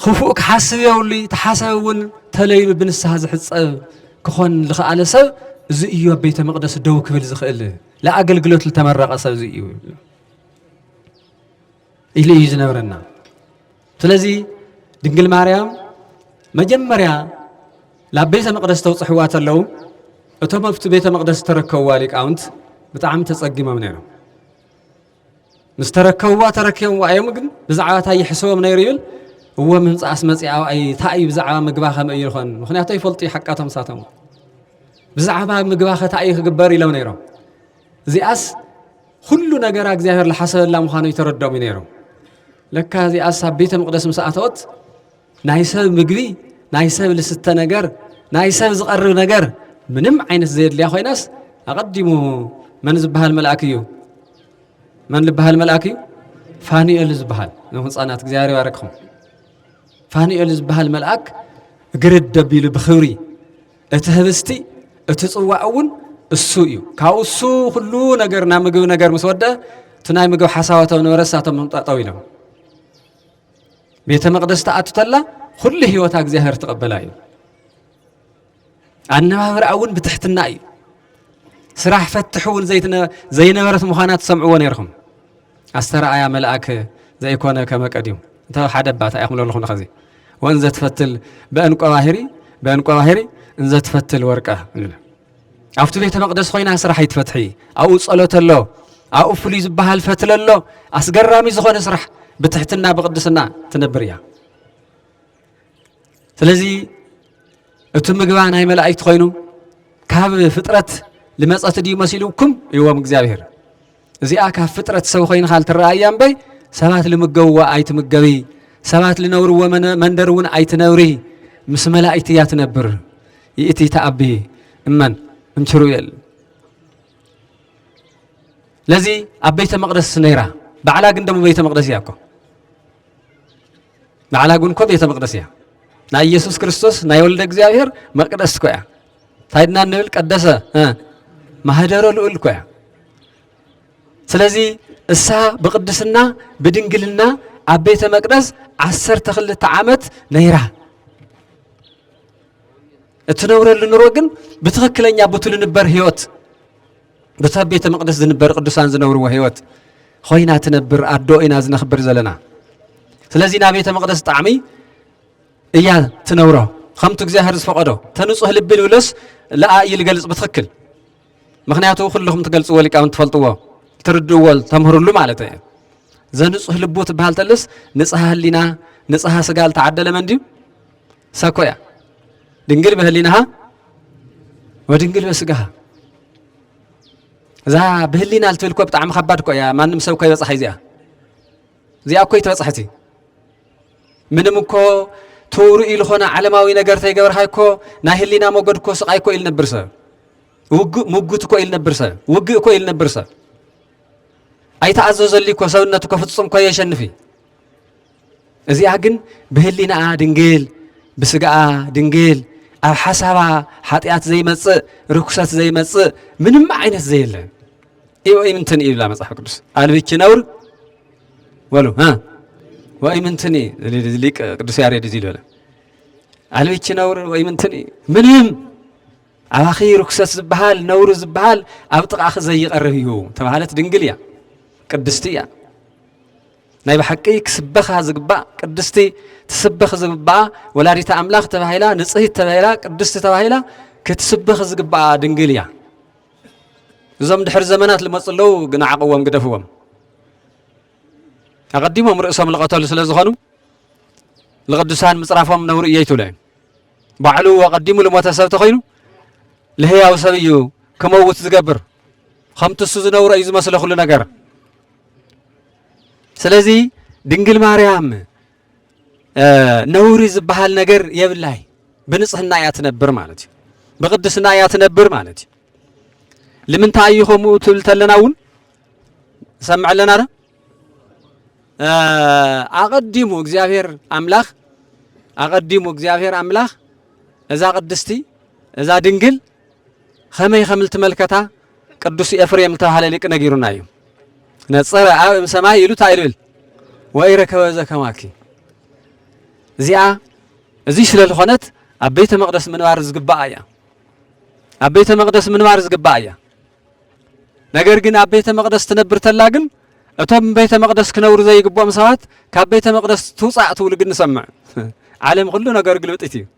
ክፉእ ክሓስብ የብሉ ተሓሰብ እውን ተለይኑ ብንስሓ ዝሕፀብ ክኾን ዝኸኣለ ሰብ እዚ እዩ ኣብ ቤተ መቕደስ ደው ክብል ዝኽእል ለኣገልግሎት ዝተመረቐ ሰብ እዚ እዩ ኢሉ እዩ ዝነብረና ስለዚ ድንግል ማርያም መጀመርያ ናብ ቤተ መቕደስ ተውፅሕዋ ተለዉ እቶም ኣብቲ ቤተ መቕደስ ዝተረከብዋ ሊቃውንት ብጣዕሚ ተጸጊሞም ነይሮም ምስ ተረከብዋ ተረኪቦምዋ እዮም ግን ብዛዕባ እንታይ ይሕሰቦም ነይሩ ይብል እዎ ምምፃእስ መፅኣ እታ እዩ ብዛዕባ ምግባ ከመይ እዩ ይኾን ምክንያቱ ይፈልጡ እዩ ሓቃቶም ሳቶም ብዛዕባ ምግባ ከታ እዩ ክግበር ኢሎም ነይሮም እዚኣስ ኹሉ ነገራ እግዚኣብሔር ዝሓሰበላ ምዃኑ ይተረዶም እዩ ነይሮም ለካ እዚኣሳ ቤተ መቕደስ ምስ ኣተወት ናይ ሰብ ምግቢ ናይ ሰብ ልስተ ነገር ናይ ሰብ ዝቐርብ ነገር ምንም ዓይነት ዘየድልያ ኮይናስ ኣቐዲሙ መን ዝበሃል መልኣክ እዩ መን ዝበሃል መልኣክ እዩ ፋኑኤል ዝበሃል ንህፃናት እግዚኣብሔር ይባረክኹም ፋኑኤል ዝበሃል መልኣክ ግርድ ደቢሉ ብኽብሪ እቲ ህብስቲ እቲ ጽዋዕ እውን እሱ እዩ ካብኡ እሱ ኩሉ ነገር ናብ ምግቢ ነገር ምስ ወደ እቲ ናይ ምግቢ ሓሳባቶ ነበረ እሳቶም ምምጣጠው ኢሎም ቤተ መቅደስ ተኣቱ ተላ ኩሉ ህይወታ እግዚኣብሔር ትቐበላ እዩ ኣነባብራ እውን ብትሕትና እዩ ስራሕ ፈትሕ እውን ዘይነበረት ምዃና ትሰምዕዎ ነይርኹም ኣስተርኣያ መልኣክ ዘይኮነ ከመ ቀዲሙ እንተ ሓደ እባ እንታይ ኢኹም ለኹም ኸዚ ወእንዘ ትፈትል በእንቆ ባህሪ በእንቆ ባህሪ እንዘ ትፈትል ወርቀ ኣብቲ ቤተ መቅደስ ኮይና ስራሕ ኣይትፈትሒ ኣብኡ ጸሎት ኣሎ ኣብኡ ፍሉይ ዝበሃል ፈትለ ኣሎ ኣስገራሚ ዝኾነ ስራሕ ብትሕትና ብቅድስና ትነብር እያ ስለዚ እቲ ምግባ ናይ መላእክት ኮይኑ ካብ ፍጥረት ልመጸት ድዩ መሲሉኩም ይዎም እግዚኣብሔር እዚኣ ካብ ፍጥረት ሰብ ኮይንካ ልትረኣያ እምበይ ሰባት ልምገብዋ ኣይትምገቢ ሰባት ልነብርዎ መንደር እውን ኣይትነብሪ ምስ መላእክቲ እያ ትነብር ይእቲ ተኣቢ እመን እንችሩ እየል ለዚ ኣብ ቤተ መቅደስ ነይራ ባዕላ ግን ደሞ ቤተ መቅደስ እያ እኮ ንዓና ግን እኮ ቤተ መቅደስ እያ ናይ ኢየሱስ ክርስቶስ ናይ ወልደ እግዚኣብሔር መቅደስ እኮ እያ እንታይ ድና ንብል ቀደሰ ማህደረ ልኡል እኮ እያ ስለዚ እሳ ብቅድስና ብድንግልና ኣብ ቤተ መቅደስ ዓሰርተ ክልተ ዓመት ነይራ እትነብረሉ ኑሮ ግን ብትክክለኛ ብትልንበር ህይወት በቲ ኣብ ቤተ መቕደስ ዝንበር ቅዱሳን ዝነብርዎ ህይወት ኮይና ትነብር ኣዶ ኢና ዝነኽብር ዘለና ስለዚ ናብ ቤተ መቕደስ ጣዕሚ እያ ትነብሮ ከምቲ እግዚኣብሔር ዝፈቐዶ ተንጹህ ልቢ ንብለስ ለኣ እዩ ዝገልጽ ብትኽክል ምክንያቱ ኩልኹም ትገልጽዎ ሊቃውን ትፈልጥዎ ትርድእዎ ተምህርሉ ማለት እዩ ዘንጹህ ልቡ ትበሃል ተልስ ንጽሃ ህሊና ንጽሃ ስጋ ዝተዓደለ መን ድዩ እሳ እኮ እያ ድንግል በህሊናሃ ወድንግል በስጋሃ እዛ ብህሊና ልትብል እኮ ብጣዕሚ ከባድ እኮ እያ ማንም ሰብ እኮ ይበፅሓ እዚኣ እዚኣ እኮ ይትበፅሐት እዩ ምንም እኮ ተውርኡ ዝኾነ ዓለማዊ ነገር ተይገበርካ እኮ ናይ ህሊና ሞገድ እኮ ስቓይ እኮ ኢል ነብር ሰብ ውግእ ምጉት እኮ ኢል ነብር ሰብ ውግእ እኮ ኢል ነብር ሰብ ኣይተኣዘዘሉ እኮ ሰብነት እኮ ፍፁም እኮ የሸንፍ እዩ እዚኣ ግን ብህሊናኣ ድንግል ብስጋኣ ድንግል ኣብ ሓሳባ ሓጢኣት ዘይመፅእ ርኩሰት ዘይመፅእ ምንም ዓይነት ዘየለ ወይምንትን እዩ ይብላ መፅሓፍ ቅዱስ ኣልብኪ ነውር በሉ ወይምንትን ሊቅ ቅዱስ ያሬድ እዚ ዝበለ ኣልብኪ ነውር ወይምንትን ምንም ኣባኺ ርኩሰት ዝበሃል ነውሪ ዝበሃል ኣብ ጥቓኺ ዘይቐርብ እዩ ተባሃለት ድንግል እያ ቅድስቲ እያ ናይ ብሓቂ ክስበኻ ዝግባእ ቅድስቲ ትስበኽ ዝግባኣ ወላዲተ ኣምላኽ ተባሂላ ንጽህት ተባሂላ ቅድስቲ ተባሂላ ክትስበኽ ዝግባኣ ድንግል እያ። እዞም ድሕሪ ዘመናት ልመፁ ኣለዉ ግን ዓቕዎም ግደፍዎም ኣቐዲሞም ርእሶም ልቐተሉ ስለ ዝኾኑ ልቕዱሳን ምፅራፎም ነውሪ እየይ ትብሎ እዩ ባዕሉ ኣቐዲሙ ልሞተ ሰብ ተኾይኑ ልህያው ሰብ እዩ ክመውት ዝገብር ከምቲ እሱ ዝነውረ እዩ ዝመስለ ኩሉ ነገር ስለዚ ድንግል ማርያም ነውሪ ዝበሃል ነገር የብላይ ብንጽህና እያ ትነብር ማለት እዩ ብቅድስና እያ ትነብር ማለት እዩ ልምንታይ እዩ ከምኡ ትብል ተለና እውን ንሰምዕ ኣለና ዶ ኣቐዲሙ እግዚኣብሔር ኣምላኽ ኣቐዲሙ እግዚኣብሔር ኣምላኽ እዛ ቅድስቲ እዛ ድንግል ኸመይ ኸም ልትመልከታ ቅዱስ ኤፍሬም ልተባህለ ሊቅ ነጊሩና እዩ ነጸረ ኣብ እም ሰማይ ኢሉ እንታይ ልብል ወይ ረከበ ዘከማኪ እዚኣ እዙይ ስለ ዝኾነት ኣብ ቤተ መቅደስ ምንባር ዝግባኣ እያ ኣብ ቤተ መቅደስ ምንባር ዝግባኣ እያ ነገር ግን ኣብ ቤተ መቅደስ ትነብር ተላ ግን እቶም ቤተ መቅደስ ክነብሩ ዘይግብኦም ሰባት ካብ ቤተ መቅደስ ትውፃእ ትብሉ ግን ንሰምዕ ዓለም ኩሉ ነገር ግልብጢት እዩ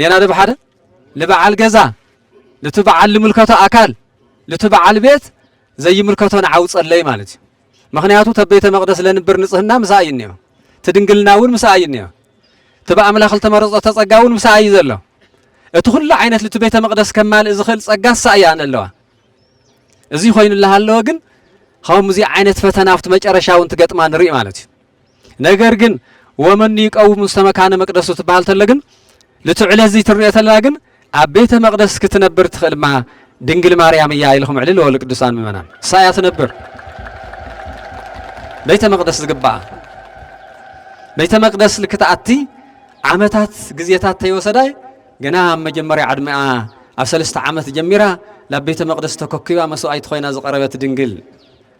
ኔና ዶ ብሓደ ልበዓል ገዛ ልቲ በዓል ልምልከቶ ኣካል ልቲ በዓል ቤት ዘይምልከቶ ንዓው ጸለይ ማለት እዩ ምክንያቱ ተቤተ መቅደስ ለንብር ንጽህና ምሳ እዩ እኒኦ ትድንግልና እውን ምሳ እዩ እኒኦ እቲ ብኣምላኽ ዝተመረጾ ተጸጋ እውን ምሳ እዩ ዘሎ እቲ ኩሉ ዓይነት ልቲ ቤተ መቅደስ ከማልእ ዝኽእል ጸጋ እሳ እያ ኣለዋ እዚ ኮይኑላ ኣለወ ግን ከምዚ ዓይነት ፈተና ኣብቲ መጨረሻ እውን ትገጥማ ንርኢ ማለት እዩ ነገር ግን ወመኑ ይቀውም ውስተ መካነ መቅደሱ ትበሃል ተለ ግን ንቲ ዕለት እዚ ትርንኦ ተለና ግን ኣብ ቤተ መቅደስ ክትነብር ትኽእል ድማ ድንግል ማርያም እያ ኢልኹም ዕልል ወሉ ቅዱሳን ምእመናን እሳ እያ ትነብር ቤተ መቅደስ ዝግባኣ ቤተ መቅደስ ልክትኣቲ ዓመታት ግዜታት ተይወሰዳይ ግና ኣብ መጀመርያ ዕድሚኣ ኣብ ሰለስተ ዓመት ጀሚራ ናብ ቤተ መቅደስ ተኮኪባ መስዋእይቲ ኮይና ዝቀረበት ድንግል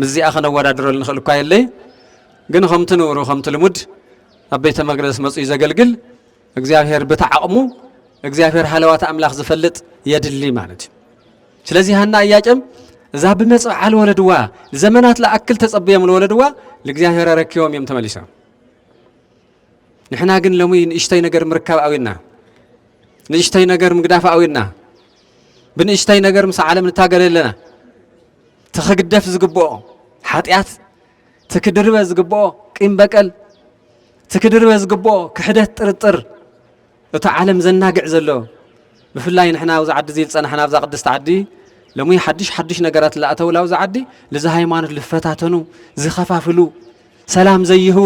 ምስዚኣ ከነወዳድረሉ ንኽእል እኳ የለይ ግን ከምቲ ንብሩ ከምቲ ልሙድ ኣብ ቤተ መቅደስ መፅኡ ዘገልግል እግዚኣብሔር ብቲ ዓቕሙ እግዚኣብሔር ሃለዋት ኣምላኽ ዝፈልጥ የድሊ ማለት እዩ ስለዚ ሃና እያቄም እዛ ብመጽብዓ ለወለድዋ ዘመናት ለኣክል ተጸብዮም ለወለድዋ ልእግዚኣብሔር ኣረኪቦም እዮም ተመሊሶም ንሕና ግን ሎሚ ንእሽተይ ነገር ምርካብ ኣዊና ንእሽተይ ነገር ምግዳፍ ኣዊና ብንእሽተይ ነገር ምስ ዓለም ንታገለ ኣለና ትክግደፍ ዝግብኦ ሓጢኣት፣ ትክድርበ ዝግብኦ ቂም በቀል፣ ትክድርበ ዝግብኦ ክሕደት ጥርጥር እቶ ዓለም ዘናግዕ ዘሎ ብፍላይ ንሕና ኣብዚ ዓዲ እዚ ዝፀናሕና ኣብዛ ቅድስቲ ዓዲ ሎሚ ሓድሽ ሓድሽ ነገራት ዝኣተውላ ኣብዚ ዓዲ ልዚ ሃይማኖት ዝፈታተኑ ዝኸፋፍሉ ሰላም ዘይህቡ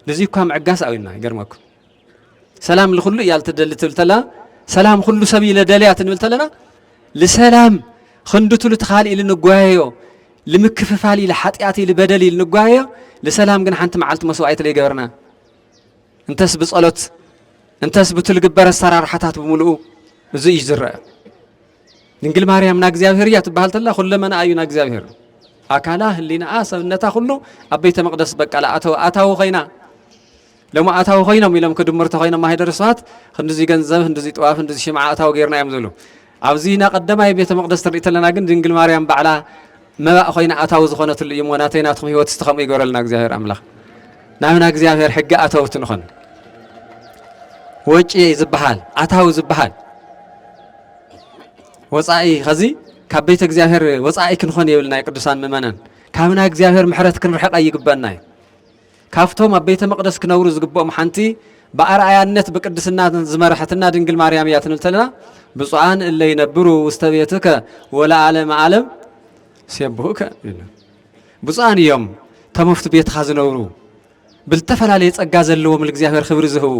ንዚ እኳ ምዕጋስ ኣውና ይገርመኩም ሰላም ልኹሉ እያ ልትደሊ ትብል ተለና ሰላም ኩሉ ሰብ ኢለ ደልያ ትንብል ተለና ልሰላም ክንዱ ትሉ ትኻል ኢል ንጓየዮ ልምክፍፋል ኢል ሓጢኣት ኢል በደል ኢል ንጓየዮ ልሰላም ግን ሓንቲ መዓልቲ መስዋዕት ለይገበርና እንተስ ብጸሎት እንተስ ብቱ ልግበር ኣሰራርሓታት ብምልኡ እዚ እዩ ዝረአ ድንግል ማርያም ና እግዚኣብሔር እያ ትበሃል ተላ ኩለመና እዩ ና እግዚኣብሔር ኣካላ ህሊናኣ ሰብነታ ኩሉ ኣብ ቤተ መቅደስ በቃ ኣተወ ኣታዊ ኮይና ሎሚ ኣታዊ ኮይኖም ኢሎም ክድምሩ ተኾይኖም ማህደር ስብሃት ክንድዚ ገንዘብ ክንድዚ ጥዋፍ ክንድዚ ሽምዓ ኣታዊ ጌርና እዮም ዝብሉ ኣብዚ ና ቀዳማይ ቤተ መቅደስ ትርኢ ተለና ግን ድንግል ማርያም ባዕላ መባእ ኮይና ኣታዊ ዝኾነትሉ እዩ እሞ ናተይ ናትኩም ህይወት እስቲ ከምኡ ይገረልና እግዚኣብሔር ኣምላኽ ናብና እግዚኣብሔር ሕጊ ኣተውቲ ንኾን ወጪ ዝበሃል ኣታዊ ዝበሃል ወፃኢ ከዚ ካብ ቤተ እግዚኣብሔር ወፃኢ ክንኾን የብልና ቅዱሳን ምእመናን ካብና እግዚኣብሔር ምሕረት ክንርሕቀ ይግበና እዩ ካብቶም ኣብ ቤተ መቕደስ ክነብሩ ዝግብኦም ሓንቲ ብኣርኣያነት ብቅድስናን ዝመርሐትና ድንግል ማርያም እያ ትንብል ተለና ብፁዓን እለ ይነብሩ ውስተ ቤትከ ወለዓለመ ዓለም ሴብሑከ ይብሉ። ብፁዓን እዮም እቶም ኣብቲ ቤትኻ ዝነብሩ ብዝተፈላለየ ጸጋ ዘለዎም ንእግዚኣብሔር ክብሪ ዝህቡ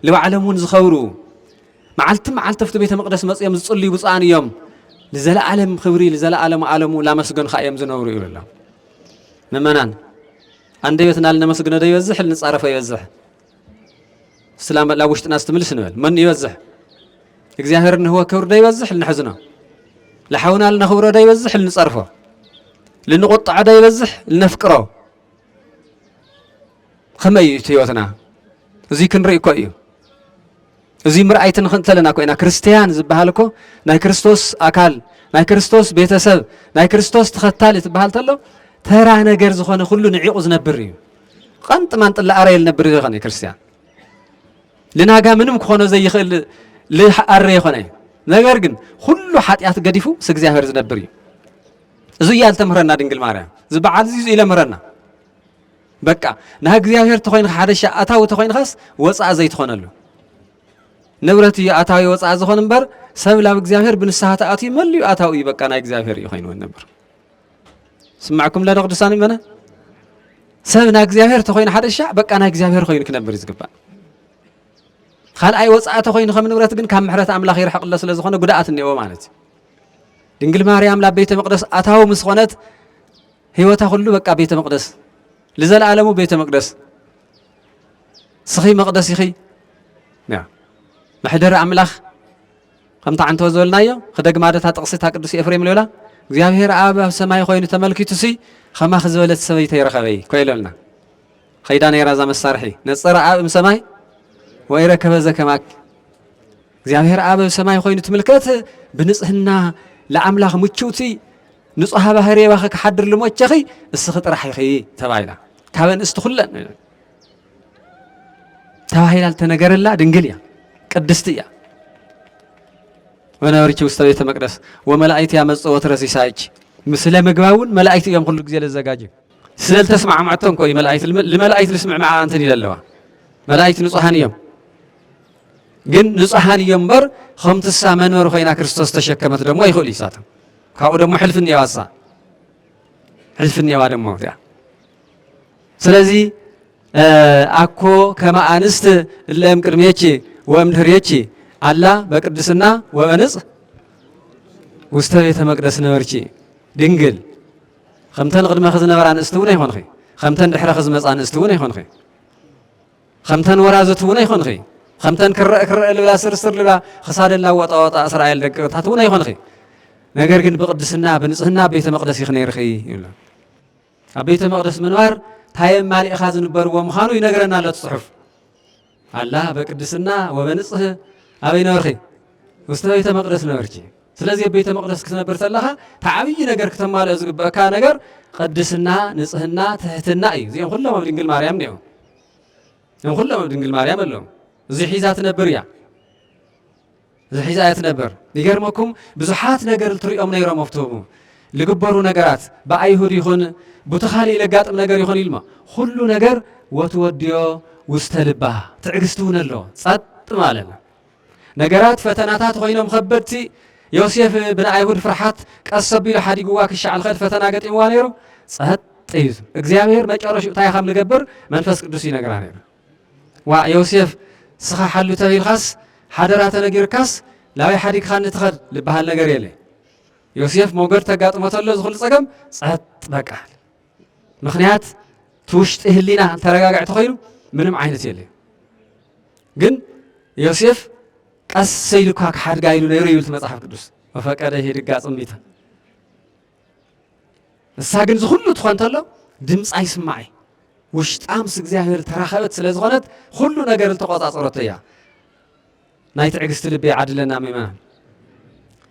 ንባዕሎም እውን ዝኸብሩ መዓልቲ መዓልቲ ኣብቲ ቤተ መቕደስ መጽኦም ዝጽልዩ ብፁዓን እዮም ንዘለዓለም ክብሪ ንዘለዓለም ዓለሙ ላመስገንካ እዮም ዝነብሩ ይብሉ ምእመናን ኣንደበትና ልነመስግኖ ዶ ይበዝሕ ልንጻረፎ ይበዝሕ? እስቲ ናብ ውሽጥና እስቲ ምልስ ንበል። መን ይበዝሕ? እግዚኣብሔር ንህቦ ክብሪ ዶ ይበዝሕ ልንሕዝኖ? ልሓውና ልነኽብሮ ዶ ይበዝሕ ልንጸርፎ? ልንቁጥዖ ዶ ይበዝሕ ልነፍቅሮ? ከመይ እዩ እቲ ህይወትና? እዙይ ክንርኢ እኮ እዩ። እዙይ ምርኣይ ትንኽ እንተለና ኮይና ክርስትያን ዝበሃል እኮ ናይ ክርስቶስ ኣካል ናይ ክርስቶስ ቤተሰብ ናይ ክርስቶስ ተኸታሊ ትበሃል ተሎ ተራ ነገር ዝኾነ ኩሉ ንዒቑ ዝነብር እዩ ቐንጥ ማንጥላ ኣረየ ልነብር ዘይኮነ ክርስትያን ልናጋ ምንም ክኾኖ ዘይኽእል ልኣረ የኾነ እዩ ነገር ግን ኩሉ ሓጢኣት ገዲፉ ምስ እግዚኣብሔር ዝነብር እዩ እዙ እያ ልተምህረና ድንግል ማርያም ዝበዓል እዚ ኢለ ምህረና በቃ ናይ እግዚኣብሔር ተኾይንካ ሓደሻ ኣታዊ ተኾይንካስ ወፃእ ዘይትኾነሉ ንብረት እዩ ኣታዊ ወፃእ ዝኾን እምበር ሰብ ላብ እግዚኣብሔር ብንስሓ ተኣትዩ መል እዩ ኣታዊ እዩ በቃ ናይ እግዚኣብሔር እዩ ኮይኑ ነበር ስማዕኩም ለደ ቅዱሳን ይመና ሰብ ናይ እግዚኣብሔር ተኾይኑ ሓደሻ በቃ ናይ እግዚኣብሔር ኮይኑ ክነብር ዝግባእ ካልኣይ ወፃእ ተኾይኑ ከም ንብረት ግን ካብ ምሕረት ኣምላኽ ይርሕቕሎ ስለ ዝኾነ ጉድኣት እኒኦ ማለት እዩ ድንግል ማርያም ላብ ቤተ መቅደስ ኣታዊ ምስ ኾነት ሕይወታ ኹሉ በቃ ቤተ መቕደስ ልዘለዓለሙ ቤተ መቅደስ ስኺ መቕደስ ኢኺ መሕደሪ ኣምላኽ ከምታ ዓንተወ ዝበልናዮ ክደግማ ደታ ጥቕሲታ ቅዱስ ኤፍሬም ልዮላ እግዚኣብሔር ኣብ ኣብ ሰማይ ኮይኑ ተመልኪቱ ሲ ከማኺ ዝበለት ሰበይቲ ይረኸበይ ኮይለልና ኸይዳ ነይራ እዛ መሳርሒ ነፀረ ኣብ እም ሰማይ ወይረከበ ዘከማኪ እግዚኣብሔር ኣብ ሰማይ ኮይኑ ትምልከት ብንጽህና ለኣምላኽ ምችውቲ ንጹሃ ባህር የባኸ ክሓድር ልሞቸኺ እስኺ ጥራሕ ኢኺ ተባሂላ ካብ ኣንስቲ ኩለን ተባሂላ ዝተነገረላ ድንግል እያ ቅድስቲ እያ ወነበርኪ ውስተ ቤተ መቅደስ ወመላእክት ያመጽእ ወትረ ሲሳይኪ ምስለ ምግባ እውን መላእክቲ እዮም ኩሉ ግዜ ዘዘጋጅ ስለ ዝተስማዕማዕቶም ኮዩ መላእክት ልመላእክት ልስምዕምዓ እንትን ኢለ ኣለዋ መላእክት ንጹሃን እዮም ግን ንጹሓን እዮም እምበር ከምትሳ መንበሪ ኮይና ክርስቶስ ተሸከመት ደሞ ይኽእሉ እዩ ሳቶም ካብኡ ደሞ ሕልፊ እኒዋ እሳ ሕልፊ እኒዋ ደሞ እቲኣ ስለዚ ኣኮ ከመ ኣንስት እለ እም ቅድሜኪ ወእም ድህሬኪ ኣላ በቅድስና ወበንጽ ውስተ ቤተ መቅደስ ነበርኪ ድንግል ከምተን ቅድመኺ ዝነበራ ኣንስቲ እውን ኣይኮንኺ ከምተን ድሕረኺ ዝመፃ ኣንስቲ እውን ኣይኮንኺ ኸምተን ወራዙት እውን ኣይኮንኺ፣ ኸምተን ክረእ ክረእ ልብላ ስርስር ልብላ ኽሳደን ላወጣ ወጣ እስራኤል ደቂ ርታት እውን ኣይኮንኺ፣ ነገር ግን ብቕድስና ብንጽህና ኣብ ቤተ መቕደስ ኢኺ ነይርኺ ይብላ። ኣብ ቤተ መቕደስ ምንባር ታየም ማሊእኻ ዝንበርዎ ምዃኑ ይነግረና ኣሎ ጽሑፍ ኣላ በቅድስና ወበንጽህ ኣበይ ነበርኺ ውስተ ቤተ መቕደስ ነበርኪ ስለዚህ ኣብ ቤተ መቕደስ ክትነብር ተለኻ ተዓብዪ ነገር ክተማልኦ ዝግበአካ ነገር ቅድስና ንጽህና ትሕትና እዩ እዚኦም ኩሎም ኣብ ድንግል ማርያም እኒኦም እዮም ኩሎም ኣብ ድንግል ማርያም ኣለዉ እዚ ሒዛ ትነብር እያ እዚ ሒዛ እያ ትነብር ይገርመኩም ብዙሓት ነገር ትሪኦም ነይሮም ኣብትቡ ልግበሩ ነገራት ብኣይሁድ ይኹን ቡቲ ካልእ ለጋጥም ነገር ይኹን ኢልማ ኩሉ ነገር ወትወድዮ ውስተ ልባ ትዕግስቲ እውን ኣለዎ ጸጥ ማለት ነገራት ፈተናታት ዀይኖም ኸበድቲ፣ ዮሴፍ ብናይ ኣይሁድ ፍርሓት ቀስ ኣቢሉ ሓዲግዋ ክሻዕ ልኸድ ፈተና ገጢምዋ ነይሩ። ጸጥ እዩ ዝብል። እግዚኣብሄር መጨረሽኡ እንታይ ከም ልገብር መንፈስ ቅዱስ ይነግራ ነይሩ። ዋ ዮሴፍ ስኻ ሓሉ ተቢልካስ ሓደራ ተነጊርካስ ላበይ ሓዲግኻኒ ትኸድ ልበሃል ነገር የለ። ዮሴፍ ሞገድ ተጋጥሞ ተሎ ዝኹሉ ጸገም ጸጥ በቃ ምክንያት እቲ ውሽጢ ህሊና እንተረጋግዕ ተኮይኑ ምንም ዓይነት የለዩ ግን ዮሴፍ ቀስ ኢሉ እኳ ክሓድጋ ኢሉ ነይሩ ይብል መጽሓፍ ቅዱስ ወፈቀደ ሄድጋ ጽምቢታ ንሳ ግን ዝኩሉ ትኾን ተሎ ድምፃ ይስማዕ እዩ ውሽጣ ምስ እግዚኣብሔር ተራኸበት ስለ ዝኾነት ኩሉ ነገር ዝተቆፃፀረቶ እያ ናይ ትዕግስቲ ልቢ ይዓድለና ምእመናን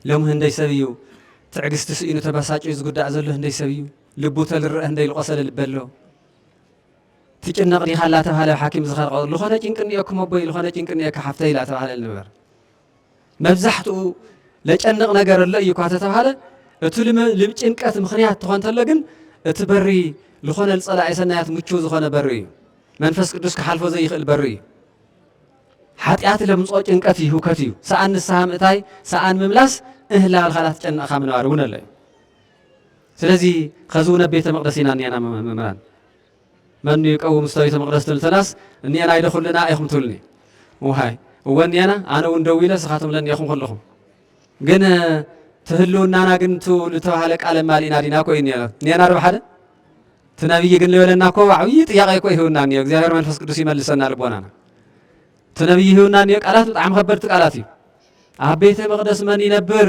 ሎሚ ህንደይ ሰብ እዩ ትዕግስቲ ስኢኑ ተበሳጭ ዝጉዳእ ዘሎ ህንደይ ሰብ እዩ ልቡ ተልረእ ህንደይ ልቆሰለ ልቢ ኣሎ ትጭነቅ ዲካ ላተባሃለ ብ ሓኪም ዝኸርቀ ልኾነ ጭንቂ እኒኦኩም ኣቦይ ልኾነ ጭንቂ እኒኦካ ሓፍተይ ላተባሃለ ነበር መብዛሕትኡ ለጨንቕ ነገር ኣሎ እዩ እኳ ተተባሃለ እቲ ልጭንቀት ምክንያት ትኾን ተሎ ግን እቲ በሪ ዝኾነ ልፀላኢ ሰናያት ምቹው ዝኾነ በሪ እዩ መንፈስ ቅዱስ ክሓልፎ ዘይኽእል በሪ እዩ ሓጢኣት ለምፆ ጭንቀት እዩ ህውከት እዩ ሰኣን ንስሃ ምእታይ ሰኣን ምምላስ እህላልካ ላትጨነቕካ ምንባር እውን ኣሎ እዩ ስለዚ ኸዚ እውን ኣብ ቤተ መቕደስ ኢና እኒኣና መምህራን መኑ ይቀውም እስተ ቤተ መቕደስ ትብል ተላስ እኒኤና ይደ ኩልና ኢኹም ትብልኒ ውሃይ እወ እኒኤና ኣነ እውን ደው ኢለ ስኻቶም ለኒኤኹም ከለኹም ግን ትህልውናና ግን ቱ ዝተባህለ ቃል ማሊእና ዲና ኮ እዩ ኒኤና ዶ ሓደ እቲ ነብይ ግን ልበለና እኮ ዓብዪ ጥያቄ እኮ ይህውና እኒኦ እግዚኣብሔር መንፈስ ቅዱስ ይመልሰና ልቦናና እቲ ነብይ ይህውና እኒኦ ቃላት ብጣዕሚ ከበድቲ ቃላት እዩ ኣብ ቤተ መቅደስ መን ይነብር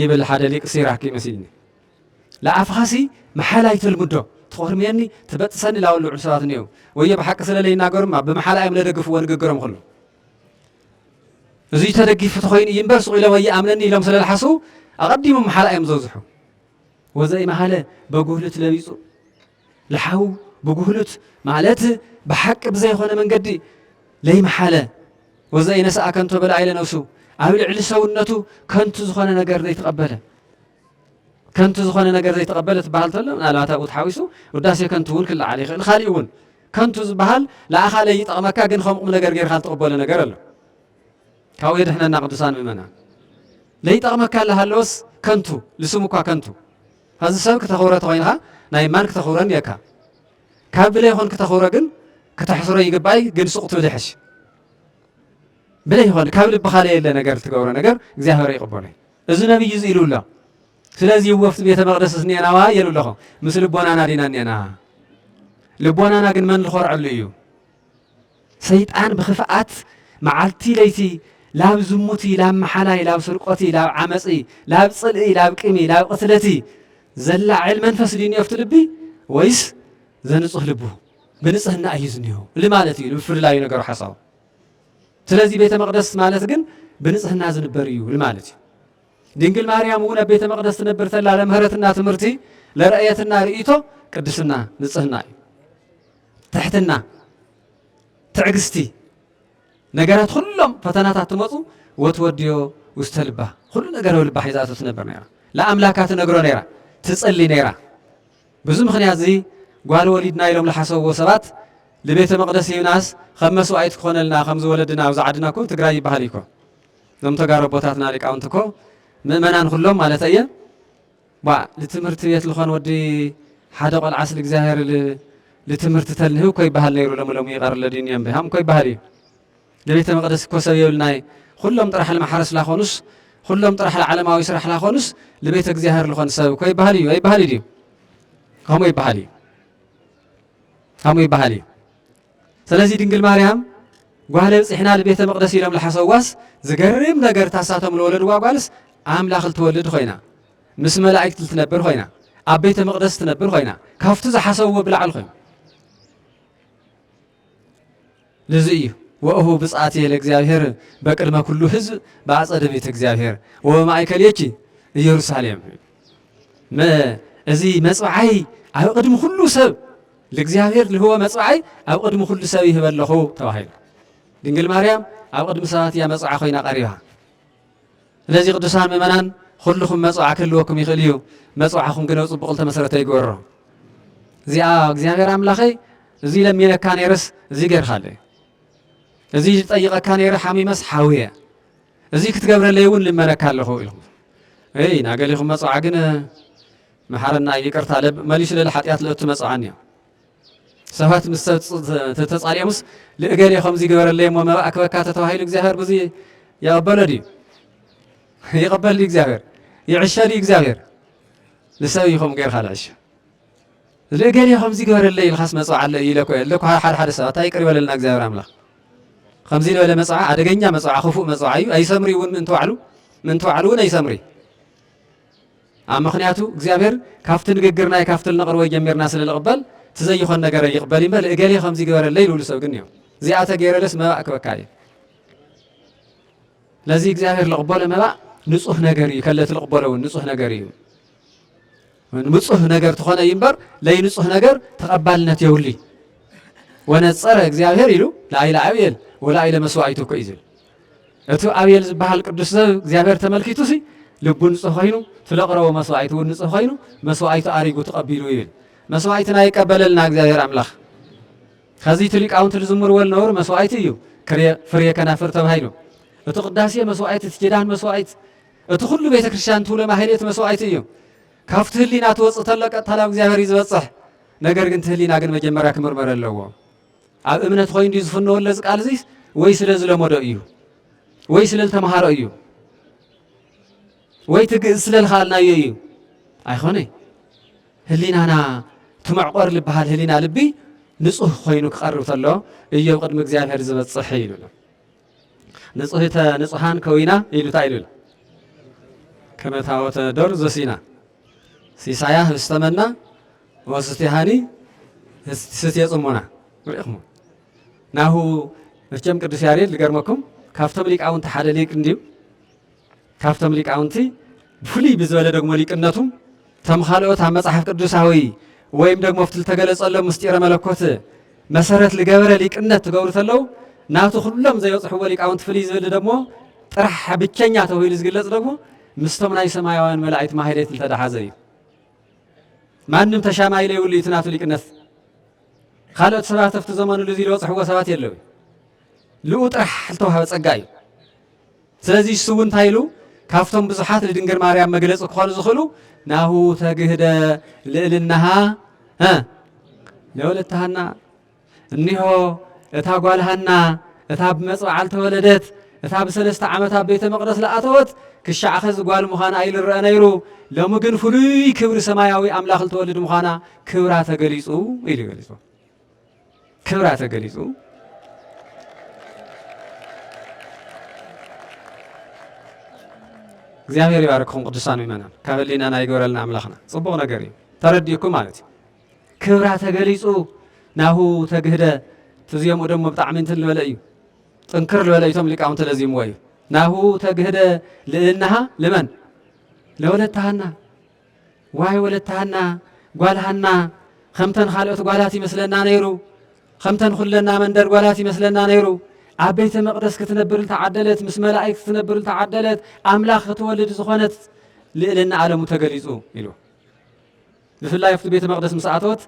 ይብል ሓደ ሊቅ ሲራክ መሲልኒ ልኣፍኻሲ መሓል ኣይተልምዶ ትኾርምየኒ ትበጥሰኒ ላበሉ ልዑል ሰባት እኔዉ ወዮ ብሓቂ ስለ ለይናገሩ እማ ብምሓላ እዮም ለደግፍዎ ንግግሮም ኹሉ እዙይ ተደጊፉ ተኾይኑ እዩ እምበር ሱቕ ኢሎም ኣይኣምነኒ ኢሎም ስለ ልሓስቡ ኣቐዲሞም መሓላ እዮም ዘብዝሑ ወዘኢመሃለ በጉህልት ለቢጹ ለሓው ብጉህሉት ማለት ብሓቂ ብዘይኮነ መንገዲ ለይመሓለ ወዘኢነስኣ ከንቶ በላዒለ ነብሱ ኣብ ልዕሊ ሰውነቱ ከንቱ ዝኾነ ነገር ዘይተቐበለ ከንቱ ዝኾነ ነገር ዘይተቐበለ ትበሃል ተሎ ምናልባት ኣብኡ ተሓዊሱ ውዳሴ ከንቱ እውን ክለዓል ይኽእል ካሊእ እውን ከንቱ ዝበሃል ንኣኻ ለይጠቕመካ ግን ከም ቁም ነገር ጌርካ ዝተቐበሎ ነገር ኣሎ ካብኡ የድሕነና ቅዱሳን ምእመና ለይጠቕመካ ኣለሃለወስ ከንቱ ልስሙ እኳ ከንቱ ኣዚ ሰብ ክተኽብሮ ተኾይንኻ ናይ ማን ክተኽብሮ ኔርካ ካብ ብለይ ኾን ክተኽብሮ ግን ክተሕስሮ ይግባይ ግን ሱቅ ትብል ይሐሽ ብለይ ኾን ካብ ልብኻ ለየለ ነገር ትገብሮ ነገር እግዚኣብሔር ይቅበሎ እዚ ነብይ እዚ ኢሉ ኣሎ ስለዚ ወፍቲ ቤተ መቅደስ ስኔናዋ የሉ ኣለኹ ምስ ልቦናና ዲና ኔና ልቦናና ግን መን ዝኮርዐሉ እዩ ሰይጣን ብኽፍኣት መዓልቲ ለይቲ ላብ ዝሙቲ ላብ መሓላይ ላብ ስርቆቲ ላብ ዓመጺ ላብ ጽልኢ ላብ ቂሚ ላብ ቕትለቲ ዘላዕል መንፈስ ድዩ እኒኦፍቲ ልቢ ወይስ ዘንጹህ ልቡ ብንጽህና እዩ ዝኒኦ እል ማለት እዩ ብፍልላዩ ነገሩ ሓሳቡ ስለዚ ቤተ መቅደስ ማለት ግን ብንጽህና ዝንበር እዩ እል ማለት እዩ ድንግል ማርያም እውን ኣብ ቤተ መቅደስ ትነብር ተላ ለምህረትና ትምህርቲ ለረእየትና ርእቶ ቅድስና ንጽህና እዩ ትሕትና፣ ትዕግስቲ፣ ነገራት ኹሎም ፈተናታት ትመፁ ወትወድዮ ውስተ ልባ ኹሉ ነገር ኣብ ልባ ሒዛቶ ትነብር ነይራ። ለኣምላካ ትነግሮ ነይራ፣ ትፅሊ ነይራ። ብዙ ምክንያት እዚ ጓል ወሊድና ኢሎም ለሓሰብዎ ሰባት ልቤተ መቅደስ ሂብናስ ከም መስዋእት ክኾነልና ከምዚ ወለድና ኣብዚ ዓድና እኮ ትግራይ ይበሃል እኮ እዞም ተጋሩ ኣቦታትና ሊቃውንቲ እኮ ምእመናን ኩሎም ማለት እየ ባእ ልትምህርቲ ቤት ልኾን ወዲ ሓደ ቆልዓስ ልእግዚኣብሔር ልትምህርቲ ተልንህብ እኮ ይበሃል ነይሩ ሎሚ ሎሚ ይቐር ለድዩኒ እምቢ ሃም እኮ ይበሃል እዩ ለቤተ መቅደስ እኮ ሰብ የብልናይ ኹሎም ጥራሕ ልማሕረስ ላኾኑስ ኹሎም ጥራሕ ልዓለማዊ ስራሕ ላኾኑስ ልቤተ እግዚኣብሔር ልኾን ሰብ እኮ ይበሃል እዩ ኣይበሃል እዩ ከምኡ ይበሃል እዩ ከምኡ ይበሃል እዩ ሰለዚ ድንግል ማርያም ጓል ኣንጺሕና ንቤተ መቅደስ ኢሎም ልሓሰዋስ ዝገርም ነገር ታሳቶም ልወለድዋ ጓልስ ኣምላኽ ልትወልድ ኾይና ምስ መላእክት ልትነብር ኾይና ኣብ ቤተ መቅደስ ትነብር ኾይና ካብቱ ዝሓሰብዎ ብላዕል ኾይኑ ልዚ እዩ ወእሁ ብጽኣት የለ እግዚኣብሔር በቅድመ ኩሉ ህዝብ ብኣጸደ ቤተ እግዚኣብሔር ወበማእከልየኪ ኢየሩሳሌም እዚ መጽብዓይ ኣብ ቅድሚ ኩሉ ሰብ ልእግዚኣብሔር ልህቦ መጽብዓይ ኣብ ቕድሚ ዅሉ ሰብ ይህበ ኣለኹ ተባሂሉ። ድንግል ማርያም ኣብ ቕድሚ ሰባት እያ መጽብዓ ኮይና ቀሪባ። ስለዚ ቅዱሳን ምእመናን ዅልኹም መጽብዓ ክህልወኩም ይኽእል እዩ፣ መጽብዓኹም ግን ኣብ ጽቡቕ ዝተመሰረተ ይግበሮ። እዚኣ እግዚኣብሔር ኣምላኸይ እዚ ለሚነካ ነይረስ እዚ ገይርካለይ፣ እዚ ጠይቐካ ነይረ ሓሚመስ ሓውየ፣ እዚ ክትገብረለይ እውን ልመነካ ኣለኹ ኢልኹም። እይ ናገሊኹም መጽብዓ ግን መሓረና ይቅርታ ለብ መሊሹ ልል ሓጥያት ልእቱ መጽዓን እዮ ሰባት ምስ ሰብ ተጻልዮምስ ልእገሌ ከምዚ ግበረለይ እሞ መባእ ክበካ ተተባሂሉ እግዚኣብሔር ብዙ የቐበሎ ድዩ ይቐበል ድዩ እግዚኣብሔር ይዕሸ ድዩ እግዚኣብሔር ንሰብ እዩ ከምኡ ገይርካ ልዕሸ ልእገሌ ከምዚ ግበረለይ ኢልካስ መጽዓ ኣለ እዩ ኢለኮ ኣለኩ ሓደ ሓደ ሰባት ኣይ ቅር ይበለልና እግዚኣብሔር ኣምላኽ ከምዚ ዝበለ መጽዓ ኣደገኛ መጽዓ ክፉእ መጽዓ እዩ ኣይሰምሪ እውን ምእንቲ ባዕሉ ምእንቲ ባዕሉ እውን ኣይሰምሪ ኣብ ምክንያቱ እግዚኣብሔር ካብቲ ንግግርናይ ካብቲ ልነቅርቦይ ጀሚርና ስለ ልቅበል እቲ ዘይኾን ነገረይ ይቅበል እዩ እምበር እገሌ ከምዚ ግበረለይ ልብሉ ሰብ ግን እዮም እዚኣ ተገይረለስ መባእ ክበካ እዩ ለዚ እግዚኣብሔር ልቅበሎ መባእ ንፁህ ነገር እዩ ከለቲ ልቅበሎ እውን ንፁህ ነገር እዩ ንፁህ ነገር ትኾነ እዩ እምበር ለይ ንፁህ ነገር ተቐባልነት የብሉ ወነፀረ እግዚኣብሔር ኢሉ ላይለ ኣብኤል ወላይለ መስዋዕቱ እኮ እዩ ዝብል እቲ ኣቤል ዝበሃል ቅዱስ ሰብ እግዚኣብሔር ተመልኪቱሲ ልቡ ንጹህ ኮይኑ እቲ ለቕረቦ መስዋኢት እውን ንጹህ ኮይኑ መስዋኢቱ ኣሪጉ ተቐቢሉ ይብል መስዋኢትና ይቀበለልና እግዚኣብሔር ኣምላኽ ከዚ እቲ ሊቃውንቲ ዝዝምርዎ ዝነበሩ መስዋኢት እዩ ፍሬ ከናፍር ተባሂሉ እቲ ቅዳሴ መስዋኢት እቲ ኪዳን መስዋኢት እቲ ኩሉ ቤተ ክርስቲያን ትብሎ ማህሌት መስዋኢት እዩ ካብቲ ህሊና ትወፅእ ተሎ ቀጥታ ናብ እግዚኣብሔር እዩ ዝበፅሕ ነገር ግን እቲ ህሊና ግን መጀመርያ ክምርመር ኣለዎ ኣብ እምነት ኾይኑ ድዩ ዝፍነወሉ እዚ ቃል እዙይ ወይ ስለ ዝለመዶ እዩ ወይ ስለ ዝተምሃሮ እዩ ወይ ትግእዝ ስለ ዝኸኣልናዮ እዩ ኣይኾነይ ህሊናና ትመዕቆር ዝበሃል ህሊና ልቢ ንጹህ ኮይኑ ክቐርብ ተሎ እዮ ቅድሚ እግዚኣብሔር ዝበጽሕ ኢሉ ንጹህተ ንጹሃን ከዊና ኢሉ እንታይ ኢሉ ከመታወተ ዶር ዘሲና ሲሳያ ህብስተመና መስትይ ሃኒ ስትየ ጽሞና ርኢኹሞ ናሁ መቸም ቅዱስ ያሬድ ልገርመኩም ካብቶም ሊቃውንቲ ሓደ ሊቅ እንድዩ ካብቶም ሊቃውንቲ ብፍሉይ ብዝበለ ደግሞ ሊቅነቱ ተም ካልኦት ኣብ መጽሓፍ ቅዱሳዊ ወይም ደግሞ ኣብቲ ዝተገለጸሎ ምስጢረ መለኮት መሰረት ልገበረ ሊቅነት ትገብሩ ተለው ናቱ ኩሎም ዘይበጽሕዎ ሊቃውንቲ ፍልይ ዝብል ደግሞ ጥራሕ ብቸኛ ተባሂሉ ዝግለጽ ደግሞ ምስቶም ናይ ሰማያውያን መላእክት ማህሌት ዝተደሓዘ እዩ ማንም ተሻማይ ለይብሉ እዩ እቲ ናቱ ሊቅነት። ካልኦት ሰባት ኣብቲ ዘመንሉ እዚ ዝበፅሕዎ ሰባት የለው ልኡ ጥራሕ ዝተዋህበ ፀጋ እዩ። ስለዚ እሱ እውን እንታይ ኢሉ ካብቶም ብዙሓት ንድንግል ማርያም መግለፂ ክኾኑ ዝኽእሉ ናሁ ተግህደ ልእልናሃ ለወለተሃና እኒሆ እታ ጓል ሃና እታ ብመጽብዓል ተወለደት፣ እታ ብሰለስተ ዓመት ኣብ ቤተ መቕደስ ለኣተወት ክሻዕ ኸዚ ጓል ምዃና ኣይልረአ ነይሩ፣ ሎሚ ግን ፍሉይ ክብሪ ሰማያዊ ኣምላኽ ልትወልድ ምዃና ክብራ ተገሊጹ ኢሉ ገሊጹ። ክብራ ተገሊጹ። እግዚኣብሔር ይባርክኹም ቅዱሳን ምእመናን፣ ካብ ህሊናና ይግበረልና ኣምላኽና። ጽቡቕ ነገር እዩ ተረዲእኩም ማለት እዩ። ክብራ ተገሊጹ ናሁ ተግህደ ትዜምኡ ደሞ ብጣዕሚ እንትን ልበለ እዩ ጥንክር ልበለ እዩቶም ሊቃውንቲ ለዚምዎ እዩ ናሁ ተግህደ ልእልናሃ ልመን ለወለታሃና ዋይ ወለታሃና ጓልሃና ከምተን ካልኦት ጓላት ይመስለና ነይሩ ከምተን ኩለና መንደር ጓላት ይመስለና ነይሩ ኣብ ቤተ መቅደስ ክትነብር ተዓደለት ምስ መላእክት ክትነብር ተዓደለት ኣምላኽ ክትወልድ ዝኾነት ልእልና ኣለሙ ተገሊጹ ኢሉ ብፍላይ ኣብቲ ቤተ መቕደስ ምስ ኣተወት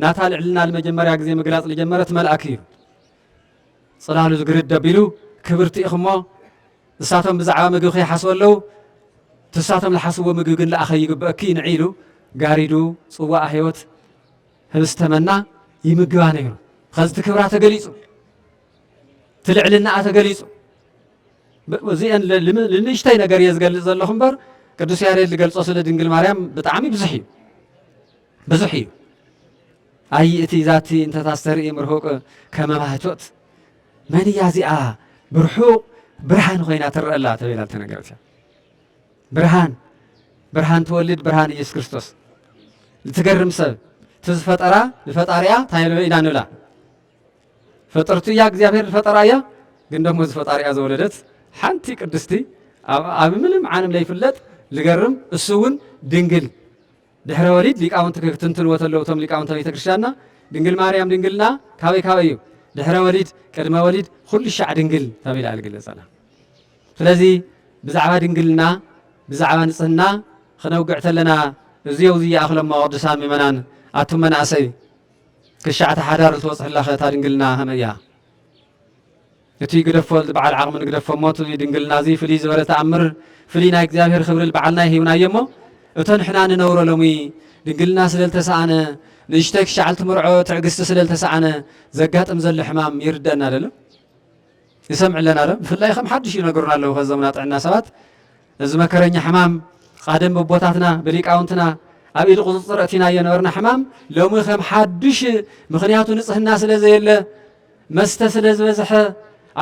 ናታ ልዕልና ልመጀመርያ ግዜ ምግላጽ ልጀመረት መልኣክ እዩ። ጽላሉ ዝግርድ ደቢሉ ክብርቲ ኢኺ እሞ ንሳቶም ብዛዕባ ምግቢ ከይሓስቡ ኣለዉ፣ ትሳቶም ልሓስዎ ምግቢ ግን ልኣኸ ይግበእኪ ንዒ ኢሉ ጋሪዱ ጽዋኣ ሕይወት ህብስተ መና ይምግባ ነይሩ። ኸዚ እቲ ክብራ ተገሊጹ። እቲ ልዕልናኣ ተገሊጹ እዚአን ንእሽተይ ነገር እየ ዝገልጽ ዘለኹ እምበር ቅዱስ ያሬድ ዝገልጾ ስለ ድንግል ማርያም ብጣዕሚ ብዙሕ እዩ ብዙሕ እዩ ኣይ እቲ ዛቲ እንተታስተርኢ ምርሁቅ ከመማህቶት መን እያ እዚኣ ብርሑቅ ብርሃን ኮይና ትረአላ ተብላ ተነገረት እያ ብርሃን ብርሃን ትወልድ ብርሃን ኢየሱስ ክርስቶስ እትገርም ሰብ እቲ ዝፈጠራ ንፈጣሪያ እንታይ ኢና ንብላ ፈጠርቱ እያ እግዚኣብሔር ዝፈጠራ እያ ግን ደሞ ዝፈጣሪያ ዘወለደት ሓንቲ ቅድስቲ ኣብ ምንም ዓለም ለይፍለጥ ዝገርም እሱ እውን ድንግል ድሕረ ወሊድ ሊቃውንቲ ክትንትንዎ ተለዉ እቶም ሊቃውንተ ቤተ ክርስቲያንና ድንግል ማርያም ድንግልና ካበይ ካበይ እዩ ድሕረ ወሊድ ቅድመ ወሊድ ኩሉ ሻዕ ድንግል ተቢላ ዝግለጸላ ስለዚ ብዛዕባ ድንግልና ብዛዕባ ንጽህና ክነውግዕ ተለና እዚው ዝይኣኽለሞ ቅዱሳን ምእመናን ኣቱም መናእሰይ ክሻዕ እቲ ሓዳር ዝወጽሕላኸ እታ ድንግልና ከመይ እያ? እቲ ግደፎ ዝበዓል ዓቕሚ ንግደፎሞ እቲ ድንግልና እዚ ፍልይ ዝበለ ተኣምር ፍልይ ናይ እግዚኣብሔር ክብሪ ልበዓልና ይሂብናዮ እሞ እቶ ንሕና ንነብሮ ሎሚ ድንግልና ስለ ልተሰኣነ ንእሽተይ ክሻዕ ልትምርዖ ትዕግስቲ ስለ ልተሰኣነ ዘጋጥም ዘሎ ሕማም ይርደእና ደሎ ይሰምዕ ኣለና ዶ ብፍላይ ከም ሓድሽ ይነግሩና ኣለዉ ከዘሙና ጥዕና ሰባት እዚ መከረኛ ሕማም ቓደም በቦታትና ብሊቃውንትና ኣብ ኢድ ቁጽጽር ኣእቲናዮ ነበርና ሕማም ሎሚ ከም ሓዱሽ ምኽንያቱ ንጽህና ስለ ዘየለ መስተ ስለ ዝበዝሐ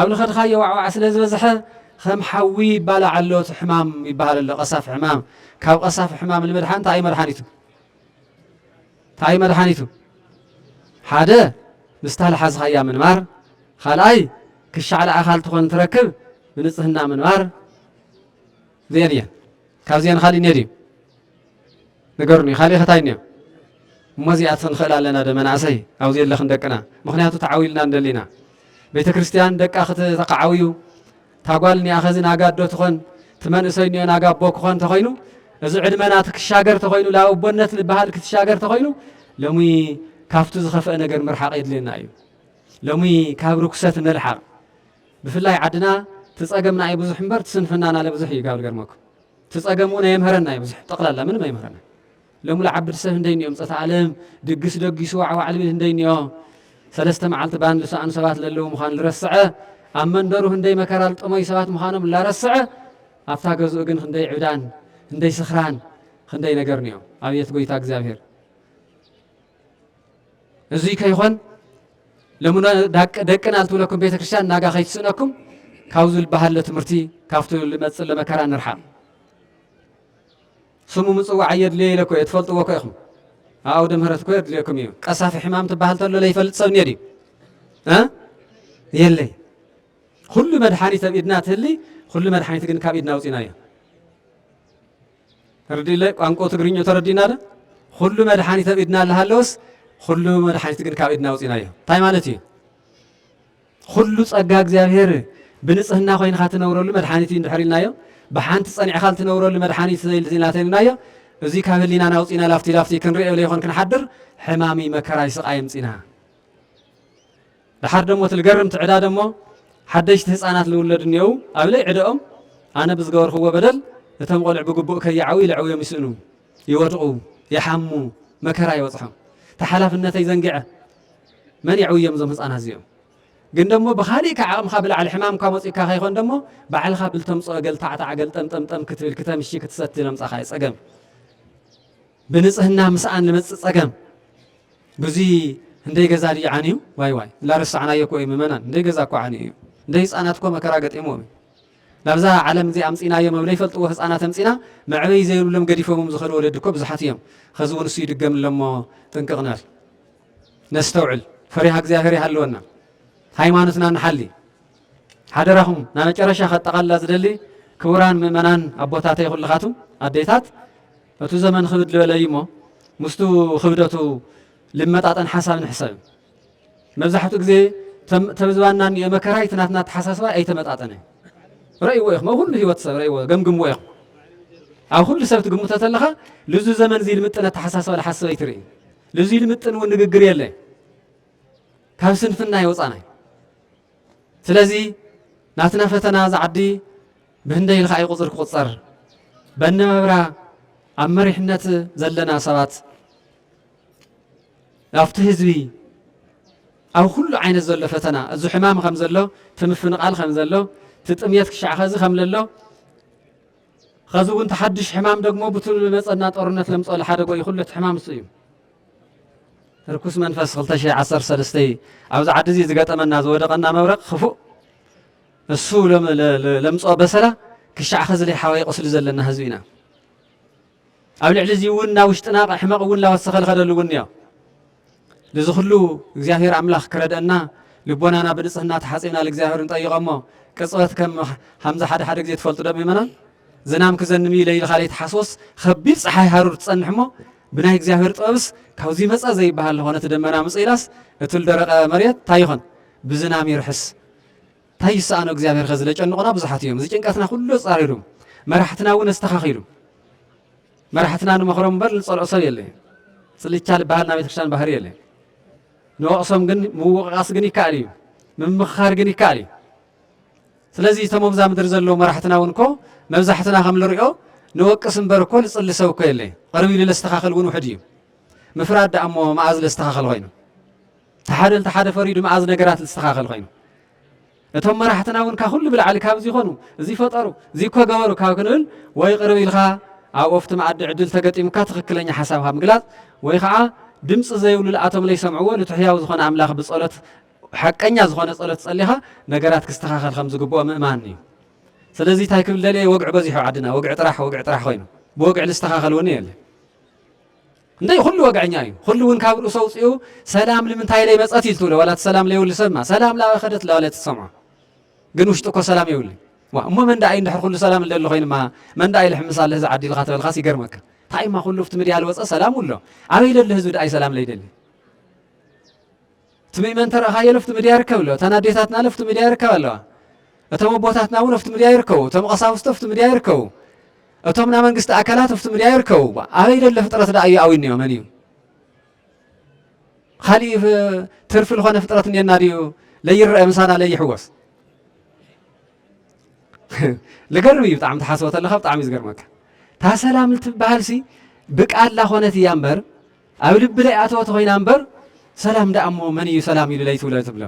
ኣብ ልኸድካዮ ዋዕዋዕ ስለ ዝበዝሐ ከም ሓዊ ይባላዕ ኣሎ እቲ ሕማም ይበሃል ኣሎ ቀሳፊ ሕማም ካብ ቀሳፊ ሕማም ንምድሓን እንታይ እዩ መድሓኒቱ እንታይ እዩ መድሓኒቱ ሓደ ምስታ ልሓዝኻያ ምንባር ካልኣይ ክሻዕ ልኣኻል ትኾን ትረክብ ብንጽህና ምንባር እዚኤን እየን ካብዚኤን ኻሊእ እኒኦ ድዩ ንገሩኒ ኻሊእ ኸታይ እኒኦ እሞ እዚኣት ንኽእል ኣለና ዶ መናእሰይ ኣብዚ ኣለኽን ደቅና ምክንያቱ ተዓውልና እንደሊና ቤተ ክርስቲያን ደቃ ክተካዓውዩ ታጓል እኒኣ ኸዚ ናጋ ዶ ትኾን ትመንእሰይ እኒኦ ናጋ ኣቦ ክኾን ተኾይኑ እዚ ዕድመና ትክሻገር ተኾይኑ ላብ ኣቦነት ዝበሃል ክትሻገር ተኾይኑ ሎሚ ካብቲ ዝኸፍአ ነገር ምርሓቕ የድልየና እዩ ሎሚ ካብ ርኩሰት ንልሓቕ ብፍላይ ዓድና ትጸገምና ኣይ ብዙሕ እምበር ትስንፍናና ለብዝሕ እዩ ጋል ገርመኩም ትጸገም ውን ኣየምህረና እዩ ብዙሕ ጠቅላላ ምንም ኣይምህረና ሎሚ ልዓብድ ሰብ ህንደይ ኒኦም ጸታ ኣለም ድግስ ደጊሱ ዋዕዋዕ ልብል ህንደይ ኒኦ ሰለስተ መዓልቲ ባን ልሰኣኑ ሰባት ለለዉ ምዃን ልረስዐ ኣብ መንደሩ ህንደይ መከራ ልጠመዩ ሰባት ምዃኖም ላረስዐ ኣብታ ገዝኡ ግን ክንደይ ዕብዳን ክንደይ ስኽራን ክንደይ ነገር ኒኦ ኣብየት ጎይታ እግዚኣብሔር እዙይ ከይኾን ለምኖ ደቅና ዝትብለኩም ቤተ ክርስቲያን ናጋ ከይትስእነኩም ካብዚ ዝበሃለ ትምህርቲ ካብቲ ልመፅእ ለመከራ ንርሓቕ ስሙ ምፅዋዕ እየድልየ ኢለ እኮ እየ ትፈልጥዎ እኮ ኢኹም ኣውደ ምህረት እኮ የድልየኩም እዩ ቀሳፊ ሕማም ትበሃል ተሎ ለይፈልጥ ሰብ እኒኦ ድዩ የለይ ኩሉ መድሓኒት ኣብ ኢድና ትህሊ ኩሉ መድሓኒት ግን ካብ ኢድና ውፅኢና እዩ ተርዲለ ቋንቆ ትግርኞ ተረዲና ዶ ኹሉ መድሓኒት ኣብ ኢድና ልሃለወስ ኹሉ መድሓኒት ግን ካብ ኢድና ኣውፂናዮ እንታይ ማለት እዩ? ኹሉ ፀጋ እግዚኣብሔር ብንፅህና ኮይንካ ትነብረሉ መድሓኒት እዩ እንድሕር ኢልናዮ ብሓንቲ ፀኒዕካ ልትነብረሉ መድሓኒት ዘይልና ተልናዮ እዙይ ካብ ህሊናና ኣውፂና ላፍቲ ላፍቲ ክንሪኦ ዘይኮን ክንሓድር ሕማሚ መከራይ ስቃይ ምፂና ደሓር ደሞ እቲ ልገርምቲ ዕዳ ደሞ ሓደሽቲ ህጻናት ልውለዱ እኔዉ ኣብ ለይ ዕደኦም ኣነ ብዝገበርክዎ በደል እቶም ቆልዑ ብግቡእ ከይዓውዩ ልዕውዮም ይስእኑ ይወድቁ ይሓሙ መከራ ይበጽሖም እቲ ሓላፍነተይ ዘንግዐ መን የዕውዮም እዞም ህጻናት እዚኦም ግን ደሞ ብኻሊእ ካብ ዓቕምኻ ብላዕሊ ሕማምካ መጺኡካ ከይኮን ደሞ ባዕልኻ ብልተምጽኦ ገልታዕታዕ ገልጠምጠምጠም ክትብል ክተምሺ ክትሰቲ ለምጻኻ እዩ ጸገም ብንጽህና ምሳኣን ልመጽእ ጸገም ብዙይ ህንደይ ገዛ ድዩ ዓንዩ ዋይ ዋይ ላረሳዕናዮ እኮ እዩ ምመናን ህንደይ ገዛ እኮ ዓንዩ እዩ ህንደይ ህጻናት እኮ መከራ ገጢምዎም እዩ ናብዛ ዓለም እዚ ኣምጺናዮ መብለይ ፈልጥዎ ህጻናት ኣምጺና መዕበይ ዘይብሎም ገዲፎምም ዝኸዱ ወለዲ እኮ ብዙሓት እዮም ኸዚ እውን እሱ ይድገም ኣለሞ ጥንቅቕ ንበል ነስተውዕል ፈሪሃ እግዚኣብሔር ይሃልወና ሃይማኖትና ንሓሊ ሓደራኹም ናብ መጨረሻ ከጠቓልላ ዝደሊ ክቡራን ምእመናን ኣቦታተይ ኩልኻቱም ኣዴታት እቱ ዘመን ኽብድ ልበለ እዩ እሞ ምስቱ ኽብደቱ ልመጣጠን ሓሳብ ንሕሰብ። መብዛሕትኡ ግዜ ተብ ዝባንና እኒኦ መከራ እቲ ናትና ኣተሓሳስባ ኣይተመጣጠነ። ረእይዎ ኢኹም ኣብ ኹሉ ህይወት ሰብ ረእይዎ ገምግምዎ ኢኹም። ኣብ ኹሉ ሰብ ትግምቶ ተለኻ ልዙ ዘመን እዚ ልምጥን ኣተሓሳስባ ልሓስብ ኣይትርኢ። ልዙ ልምጥን እውን ንግግር የለ። ካብ ስንፍና የውፃና። ስለዚ ናትና ፈተና ዝዓዲ ብህንደይ ኢልካ እዩ ቁፅሪ ክቁፀር በነመብራ ኣብ መሪሕነት ዘለና ሰባት ኣብቲ ህዝቢ ኣብ ኩሉ ዓይነት ዘሎ ፈተና እዚ ሕማም ከም ዘሎ እቲ ምፍንቓል ከም ዘሎ እቲ ጥምየት ክሻዕ ከዚ ከም ለሎ ከዚ እውን ተሓድሽ ሕማም ደግሞ ብቱል መፀና ጦርነት ለምፀሉ ሓደ ጎይ ኩሉ እቲ ሕማም እሱ እዩ ርኩስ መንፈስ 213 ኣብዚ ዓዲ እዚ ዝገጠመና ዝወደቐና መብረቕ ክፉእ እሱ ለምጽኦ በሰላ ክሻዕ ኸዚ ለይ ሓዋይ ቁስሊ ዘለና ህዝቢ ኢና ኣብ ልዕሊ እዚ እውን ናብ ውሽጥና ሕመቕ እውን ላወሰኸ ልኸደሉ እውን እዮ ልዚ ኹሉ እግዚኣብሔር ኣምላኽ ክረድአና ልቦናና ብንጽህና ተሓጺብና ልእግዚኣብሔር ንጠይቐ እሞ ቅጽበት ከም ሃምዚ ሓደ ሓደ ግዜ ትፈልጡ ዶ ምእመናን ዝናም ክዘንምዩ ለይልኻ ለይትሓስቦስ ኸቢድ ፀሓይ ሃሩር ትጸንሕ እሞ ብናይ እግዚኣብሔር ጥበብስ ካብዚ መጸ ዘይበሃል ዝኾነ እቲ ደመና ምጽኢላስ እቲ ልደረቐ መሬት እንታይ ይኾን ብዝናም ይርሕስ ታይ ይሰኣኖ እግዚኣብሔር ኸዚ ለጨንቑና ብዙሓት እዮም እዚ ጭንቀትና ኩሉ ኣፃሪሩ መራሕትና እውን ኣስተኻኺሉ መራሕትና ንመኽሮም እምበር ንፀልኦ ሰብ የለ ፅልቻ ዝበሃል ናይ ቤተክርስትያን ባህሪ የለ ንወቕሶም ግን ምውቕቓስ ግን ይከኣል እዩ ምምኽኻር ግን ይከኣል እዩ ስለዚ እቶም ኣብዛ ምድሪ ዘለዉ መራሕትና እውን እኮ መብዛሕትና ከም ንሪኦ ንወቅስ እምበር እኮ ንፅሊ ሰብ እኮ የለ ቅርብ ኢሉ ለስተኻኽል እውን ውሕድ እዩ ምፍራድ ደኣ እሞ መዓዝ ለስተኻኽል ኮይኑ እቲ ሓደ ነቲ ሓደ ፈርዩ ድማ ኣዚ ነገራት ዝስተኻኸል ኮይኑ እቶም መራሕትና እውን ካብ ኩሉ ብላዕሊ ካብ እዚ ይኾኑ እዚ ፈጠሩ እዚ እኮ ገበሩ ካብ ክንብል ወይ ቅርብ ኢልካ ኣብ ኦፍቲ መኣዲ ዕድል ተገጢሙካ ትኽክለኛ ሓሳብ ካብ ምግላፅ ወይ ከዓ ድምፂ ዘይብሉ ልኣቶም ለይሰምዕዎ ንቲ ሕያው ዝኾነ ኣምላኽ ብጸሎት ሓቀኛ ዝኾነ ጸሎት ጸሊኻ ነገራት ክስተኻኸል ከም ዝግብኦ ምእማን እዩ ስለዚ እንታይ ክብል ደልየ ወግዒ በዚሑ ዓድና ወግዒ ጥራሕ ወግዒ ጥራሕ ኮይኑ ብወግዒ ዝስተኻኸል እውን የለ እንተይ ኹሉ ወግዐኛ እዩ ኹሉ እውን ካብ ርእሱ ኣውፂኡ ሰላም ንምንታይ ለይ መፀት እዩ ትብሎ ዋላ እቲ ሰላም ለይብሉ ሰብማ ሰላም ላበይ ከደት ላበለ ትሰምዖ ግን ውሽጡ እኮ ሰላም የብሉ እሞ መን ዳኣ እዩ እንድሕር ኩሉ ሰላም እንደሊ ኮይንማ መን ዳኣ ይልሕምስ ኣለ እዚ ዓዲ ኢልካ ተበልካስ ይገርመካ እንታይ እማ ኩሉ ኣብቲ ምድያ ዝወፀ ሰላም ውሎ ኣበይ ለሎ ህዝቢ ዳኣ እዩ ሰላም ለይደሊ ትምይ መን ተረኣኻዮ ለፍቲ ምድያ ይርከብ ኣሎ እተን ኣዴታትና ለፍቲ ምድያ ይርከባ ኣለዋ እቶም ኣቦታትና እውን ኣብቲ ምድያ ይርከቡ እቶም ቀሳውስቲ ኣብቲ ምድያ ይርከቡ እቶም ናይ መንግስቲ ኣካላት ኣብቲ ምድያ ይርከቡ ኣበይ ደለ ፍጥረት ደኣ እዩ ኣዊኒዮ መን እዩ ካሊእ ትርፊ ዝኾነ ፍጥረት እኔና ድዩ ለይረአ ምሳና ለይሕወስ ልገርም እዩ ብጣዕሚ ተሓስቦ ተለካ ብጣዕሚ እዩ ዝገርመካ እታ ሰላም ትበሃልሲ ብቃላ ኮነት እያ እምበር ኣብ ልቢ ለይኣተወ ተኾይና እምበር ሰላም ደኣ እሞ መን እዩ ሰላም ኢሉ ለይትብሎ ትብሎ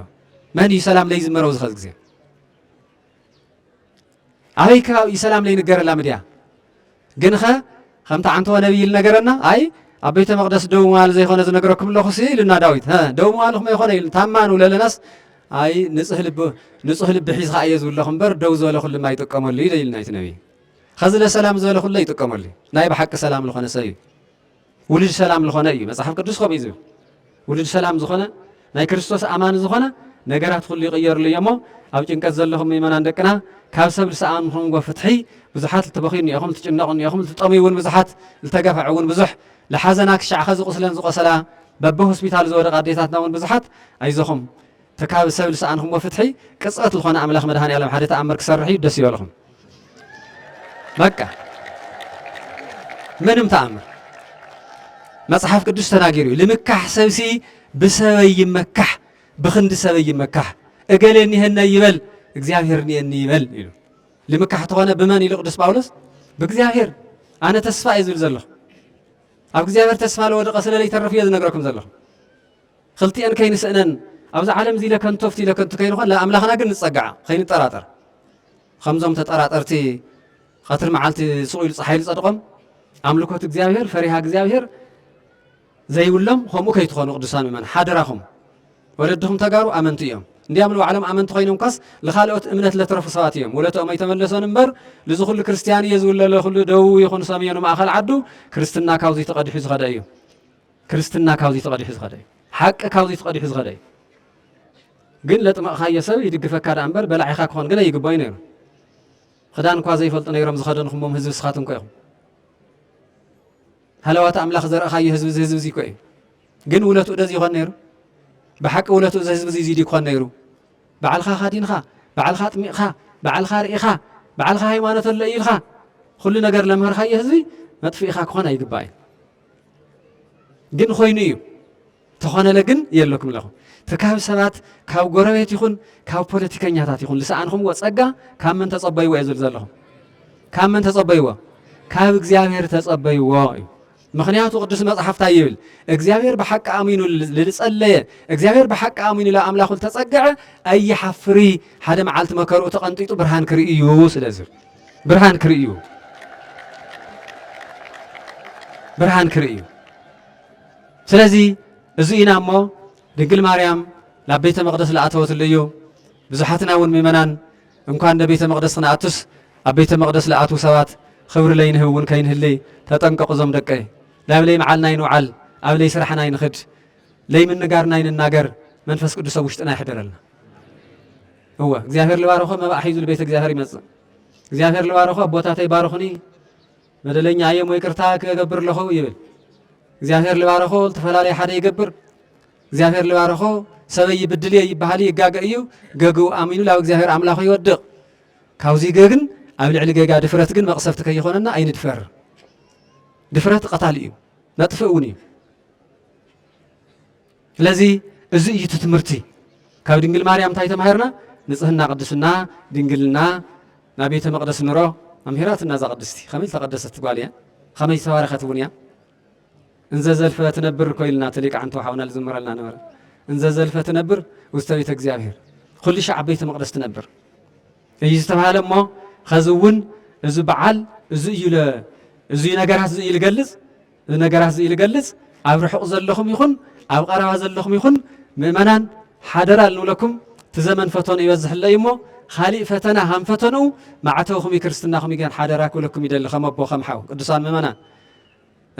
መን እዩ ሰላም ለይዝመረው ዝኸዝ ግዜ ኣበይ ከባቢ እዩ ሰላም ለይንገረላ ምድያ ግንኸ ከምቲ ዓንተወ ነቢይ ኢሉ ነገረና ኣይ ኣብ ቤተ መቅደስ ደው ምባል ዘይኮነ ዝነግረኩም ኣለኹ ሲ ኢሉና ዳዊት ደው ምባል ኹመይ ኮነ ኢሉ ታማ ንብለ ኣለናስ ኣይ ንፁህ ልቢ ንፁህ ልቢ ሒዝካ እየ ዝብለኹ እምበር ደው ዝበለ ኩሉ ማ ይጥቀመሉ እዩ ኢልና እቲ ነቢይ ኸዚ ለሰላም ዝበለ ኩሉ ይጥቀመሉ ናይ ብሓቂ ሰላም ዝኾነ ሰብ እዩ ውሉድ ሰላም ልኾነ እዩ መጽሓፍ ቅዱስ ከምኡ እዩ ዝብል ውሉድ ሰላም ዝኾነ ናይ ክርስቶስ ኣማኒ ዝኾነ ነገራት ኩሉ ይቕየርሉ እዮ እሞ ኣብ ጭንቀት ዘለኹም ምእመናን ደቅና ካብ ሰብ ዝሰኣምኹምዎ ፍትሒ ብዙሓት ልትበኽዩ እኒኦኹም ልትጭነቑ እኒኦኹም ልትጠምዩ እውን ብዙሓት ልተገፋዕ እውን ብዙሕ ልሓዘና ክሻዕ ኸዚ ቁስለን ዝቆሰላ በቢ ሆስፒታሉ ዝወደቃ ኣዴታትና እውን ብዙሓት ኣይዞኹም ተካብ ሰብ ልሰኣንክሞ ፍትሒ ቅጽበት ልኾነ ኣምላኽ መድሃኒኣለም ሓደ ተኣምር ክሰርሕ እዩ ደስ ይበልኹም በቃ ምንም ተኣምር መጽሓፍ ቅዱስ ተናጊሩ እዩ ልምካሕ ሰብሲ ብሰበይ ይመካሕ ብክንዲ ሰበይ ይመካሕ እገሌ እኒሀነ ይበል እግዚኣብሔር እኒኤኒ ይበል ኢሉ ልምካሕ ተኾነ ብመን ኢሉ ቅዱስ ጳውሎስ ብእግዚኣብሔር ኣነ ተስፋ እዩ ዝብል ዘለኹ ኣብ እግዚኣብሔር ተስፋ ለወደቐ ስለለይተርፍ እዮ ዝነግረኩም ዘለኹ ኽልቲኤን ከይንስእነን ኣብዛ ዓለም እዚ ኢለ ከንቶ ፍቲ ኢለ ከንቱ ከይንኾን ንኣምላኽና ግን ንጸግዓ ኸይንጠራጠር ኸምዞም ተጠራጠርቲ ቐትሪ መዓልቲ ስቑ ኢሉ ፀሓይ ዝጸድቖም ኣምልኮት እግዚኣብሔር ፈሪሃ እግዚኣብሔር ዘይብሎም ከምኡ ከይትኾኑ ቅዱሳን ምእመን ሓደራኹም ወለድኹም ተጋሩ ኣመንቱ እዮም እንዲያም ንባዕሎም ኣመንቲ ኮይኖም ኳስ ንካልኦት እምነት ለትረፉ ሰባት እዮም ወለትኦም ኣይተመለሶን እምበር ልዚ ኩሉ ክርስትያን እየ ዝብለለ ኩሉ ደቡብ ይኹን ሰሜኑ ማእኸል ዓዱ ክርስትና ካብዙይ ተቐዲሑ ዝኸደ እዩ ክርስትና ካብዚ ተቐዲሑ ዝኸደ እዩ። ሓቂ ካብዚ ተቐዲሑ ዝኸደ እዩ። ግን ለጥመቕኻዮ ሰብ ይድግፈካ ደኣ እምበር በላዒኻ ክኾን ግን ኣይግባእዩ ነይሩ። ክዳን እኳ ዘይፈልጡ ነይሮም ዝኸደንኹሞም ህዝቢ ንስኻትኩም እኮ ኢኹም። ሃለዋት ኣምላኽ ዘርእኻዮ ህዝቢ እዚ ህዝቢ እዚ እኮ እዩ። ግን ውለትኡ ደዚ ይኾን ነይሩ? ብሓቂ ውለትኡ እዚ ህዝቢ እዚ ክኾን ነይሩ? ባዕልኻ ካዲንኻ፣ ባዕልኻ ጥሚቕኻ፣ ባዕልኻ ርኢኻ፣ ባዕልኻ ሃይማኖት ኣሎ ኢልኻ ኩሉ ነገር ለምህርኻዮ ህዝቢ መጥፍኢኻ ክኾን ኣይግባእዩ። ግን ኮይኑ እዩ ተኾነለ ግን የለኩም ኣለኹም ትካብ ሰባት ካብ ጎረቤት ይኹን ካብ ፖለቲከኛታት ይኹን ዝሰኣንኹምዎ ጸጋ ካብ መን ተጸበይዎ እዩ ዝብል ዘለኹም ካብ መን ተጸበይዎ ካብ እግዚኣብሔር ተጸበይዎ እዩ ምክንያቱ ቅዱስ መጽሓፍታ ይብል እግዚኣብሔር ብሓቂ ኣሚኑ ዝጸለየ እግዚኣብሔር ብሓቂ ኣሚኑ ኣምላኹ ዝተጸገዐ ኣይሓፍሪ ሓደ መዓልቲ መከርኡ ተቐንጢጡ ብርሃን ክርኢ እዩ ስለዝብል ብርሃን ክርእዩ ብርሃን ክርእዩ ስለዚ እዚ ኢና እሞ ድንግል ማርያም ናብ ቤተ መቕደስ ዝኣተወትሉ እዩ ብዙሓትና እውን ምእመናን እንኳን ንቤተ መቕደስ ክንኣቱስ ኣብ ቤተ መቕደስ ዝኣትዉ ሰባት ክብሪ ለይንህብ እውን ከይንህልይ ተጠንቀቑ እዞም ደቀይ ላብ ለይ መዓልና ይንውዓል ኣብ ለይ ስራሕና ይንኽድ ለይ ምንጋርና ይንናገር መንፈስ ቅዱስ ኣብ ውሽጥና ይሕደረልና እወ እግዚኣብሔር ልባርኮ መባእ ሒዙ ልቤተ እግዚኣብሔር ይመጽእ እግዚኣብሔር ልባርኮ ኣቦታተይ ባርኹኒ በደለኛ እየ ሞ ይቅርታ ክገብር ኣለኹ ይብል እግዚኣብሔር ልባርኮ ዝተፈላለየ ሓደ ይገብር እግዚኣብሔር ልባርኮ ሰበይ ይብድል እየ ይበሃል ይጋገ እዩ ገግኡ ኣሚኑ ላብ እግዚኣብሔር ኣምላኹ ይወድቕ ካብዚ ገግን ኣብ ልዕሊ ገጋ ድፍረት ግን መቕሰፍቲ ከይኾነና ኣይንድፈር ድፍረት ቐታሊ እዩ መጥፍእ እውን እዩ ስለዚ እዚ እዩ እቲ ትምህርቲ። ካብ ድንግል ማርያም እንታይ ተማሂርና? ንጽህና ቅድስና ድንግልና ናብ ቤተ መቅደስ ንሮ ኣምሂራትና እዛ ቅድስቲ ከመይ ዝተቀደሰት ጓል እያ ከመይ ዝተባረኸት እውን እያ እንዘ ዘልፈ ትነብር እኮ ኢልና እቲ ሊቃዕንቲ ወሓውና ዝዝምረልና ነበረ እንዘ ዘልፈ ትነብር ውስተ ቤተ እግዚኣብሔር ኩሉ ሻዕ ቤተ መቅደስ ትነብር እዩ ዝተባሃለ እሞ ኸዚ እውን እዚ በዓል እዚ እዩ እዚ ነገራት እዚ እዩ ዝገልጽ እዚ ነገራት እዚ ልገልጽ ኣብ ርሑቕ ዘለኹም ይኹን ኣብ ቐረባ ዘለኹም ይኹን ምእመናን ሓደራ ልንብለኩም እቲ ዘመን ፈተኑ ይበዝሕለ እዩ እሞ ኻሊእ ፈተና ሃም ፈተንኡ ማዕተውኹም እዩ ክርስትናኹም ይገን ሓደራ ክብለኩም ይደሊ ከም ኣቦ ከም ሓው ቅዱሳን ምእመናን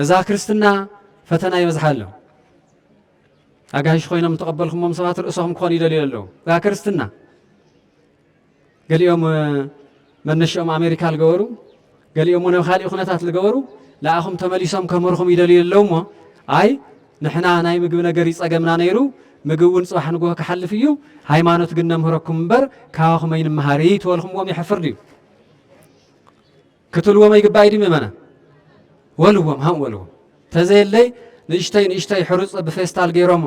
እዛ ክርስትና ፈተና ይበዝሓ ኣሎ ኣጋይሽ ኮይኖም ተቐበልኩሞም ሰባት ርእሶኹም ክኾኑ ይደልዩ ኣለዉ እዛ ክርስትና ገሊኦም መነሽኦም ኣሜሪካ ልገበሩ ገሊኦም ውን ኣብ ካሊእ ኩነታት ልገበሩ ልኣኹም ተመሊሶም ከምህርኹም ይደልዩ ኣለዉ እሞ ኣይ ንሕና ናይ ምግቢ ነገር እዩ ጸገምና ነይሩ ምግብ እውን ጽባሕ ንግሆ ክሓልፍ እዩ ሃይማኖት ግን ነምህረኩም እምበር ካባኹም ኣይንመሃር እዩ ተበልኹምዎም የሕፍር ድዩ ክትልዎም ኣይግባእ እዩ ድዩ ምእመናን? ወልዎም ሃም ወልዎም ተዘየለይ ንእሽተይ ንእሽተይ ሕሩጽ ብፌስታል ገይሮም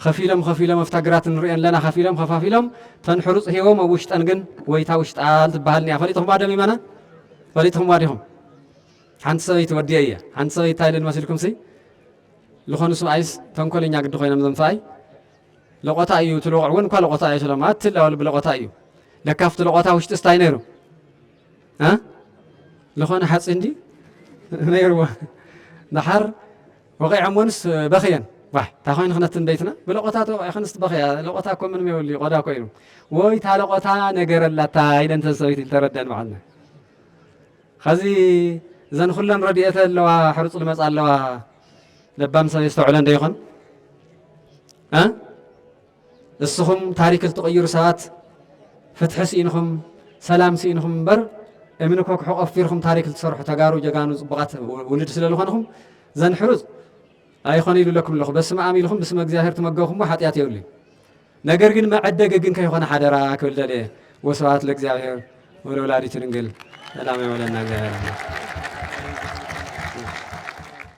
ኸፊሎም ኸፊሎም ኣብታ ግራት ንሪኦ ኣለና ኸፊሎም ኸፋፊሎም ተን ሕሩጽ ሂቦም ኣብ ውሽጠን ግን ወይታ ውሽጣል ትበሃል እኒኣ ፈሊጥኹማ ዶ ምእመናን ፈሊጥኹምዋ ዲኹም ሓንቲ ሰበይቲ ወዲየ እየ ሓንቲ ሰበይቲ እንታይ ኢለን መሲልኩምሲ ዝኾኑ ስብኣይስ ተንኮለኛ ግዲ ኮይኖም እዞም ሰብኣይ ለቆታ እዩ እቲ ለቑዕ እውን እኳ ለቆታ እዩ ስሎም ኣትላወል ብለቆታ እዩ ለካፍቲ ለቆታ ውሽጢ ስታይ ነይሩ ዝኾነ ሓፂን ድዩ ነይርዎ ድሓር ወቂዐሞንስ በኽየን ዋይ እንታይ ኮይኑ ክነትን ቤትና ብለቆታ ተወቂዕክንስ ትበኽያ ለቆታ እኮ ምንም የብሉ ቆዳ ኮይኑ ወይ እታ ለቆታ ነገረላታ ኢለን እተን ሰበይቲ እንተረደን በዓልና ኸዚ እዘን ኩለን ረድኤተ ኣለዋ ሕርፁ ልመፃ ኣለዋ ለባም ሰብ የስተውዕለን ዶ ይኾን እስኹም ታሪክ እትቕይሩ ሰባት ፍትሒ ስኢንኹም ሰላም ስኢንኹም እምበር እምኒ ኮክሑ ቆፊርኹም ታሪክ እትሰርሑ ተጋሩ ጀጋኑ ጽቡቓት ውልድ ስለ ዝኾንኹም ዘንሕሩጽ ኣይኾነ ኢሉ ኣለኩም ኣለኹ በስመ ኣም ኢልኹም ብስመ እግዚኣብሔር ትመገብኹሞ ሓጢኣት የብሉ ነገር ግን መዐደገ ግን ከይኾነ ሓደራ ክብል ደልየ ወስብሐት ለእግዚኣብሔር ወለወላዲቱ ድንግል ሰላም የበለና እግዚኣብሔር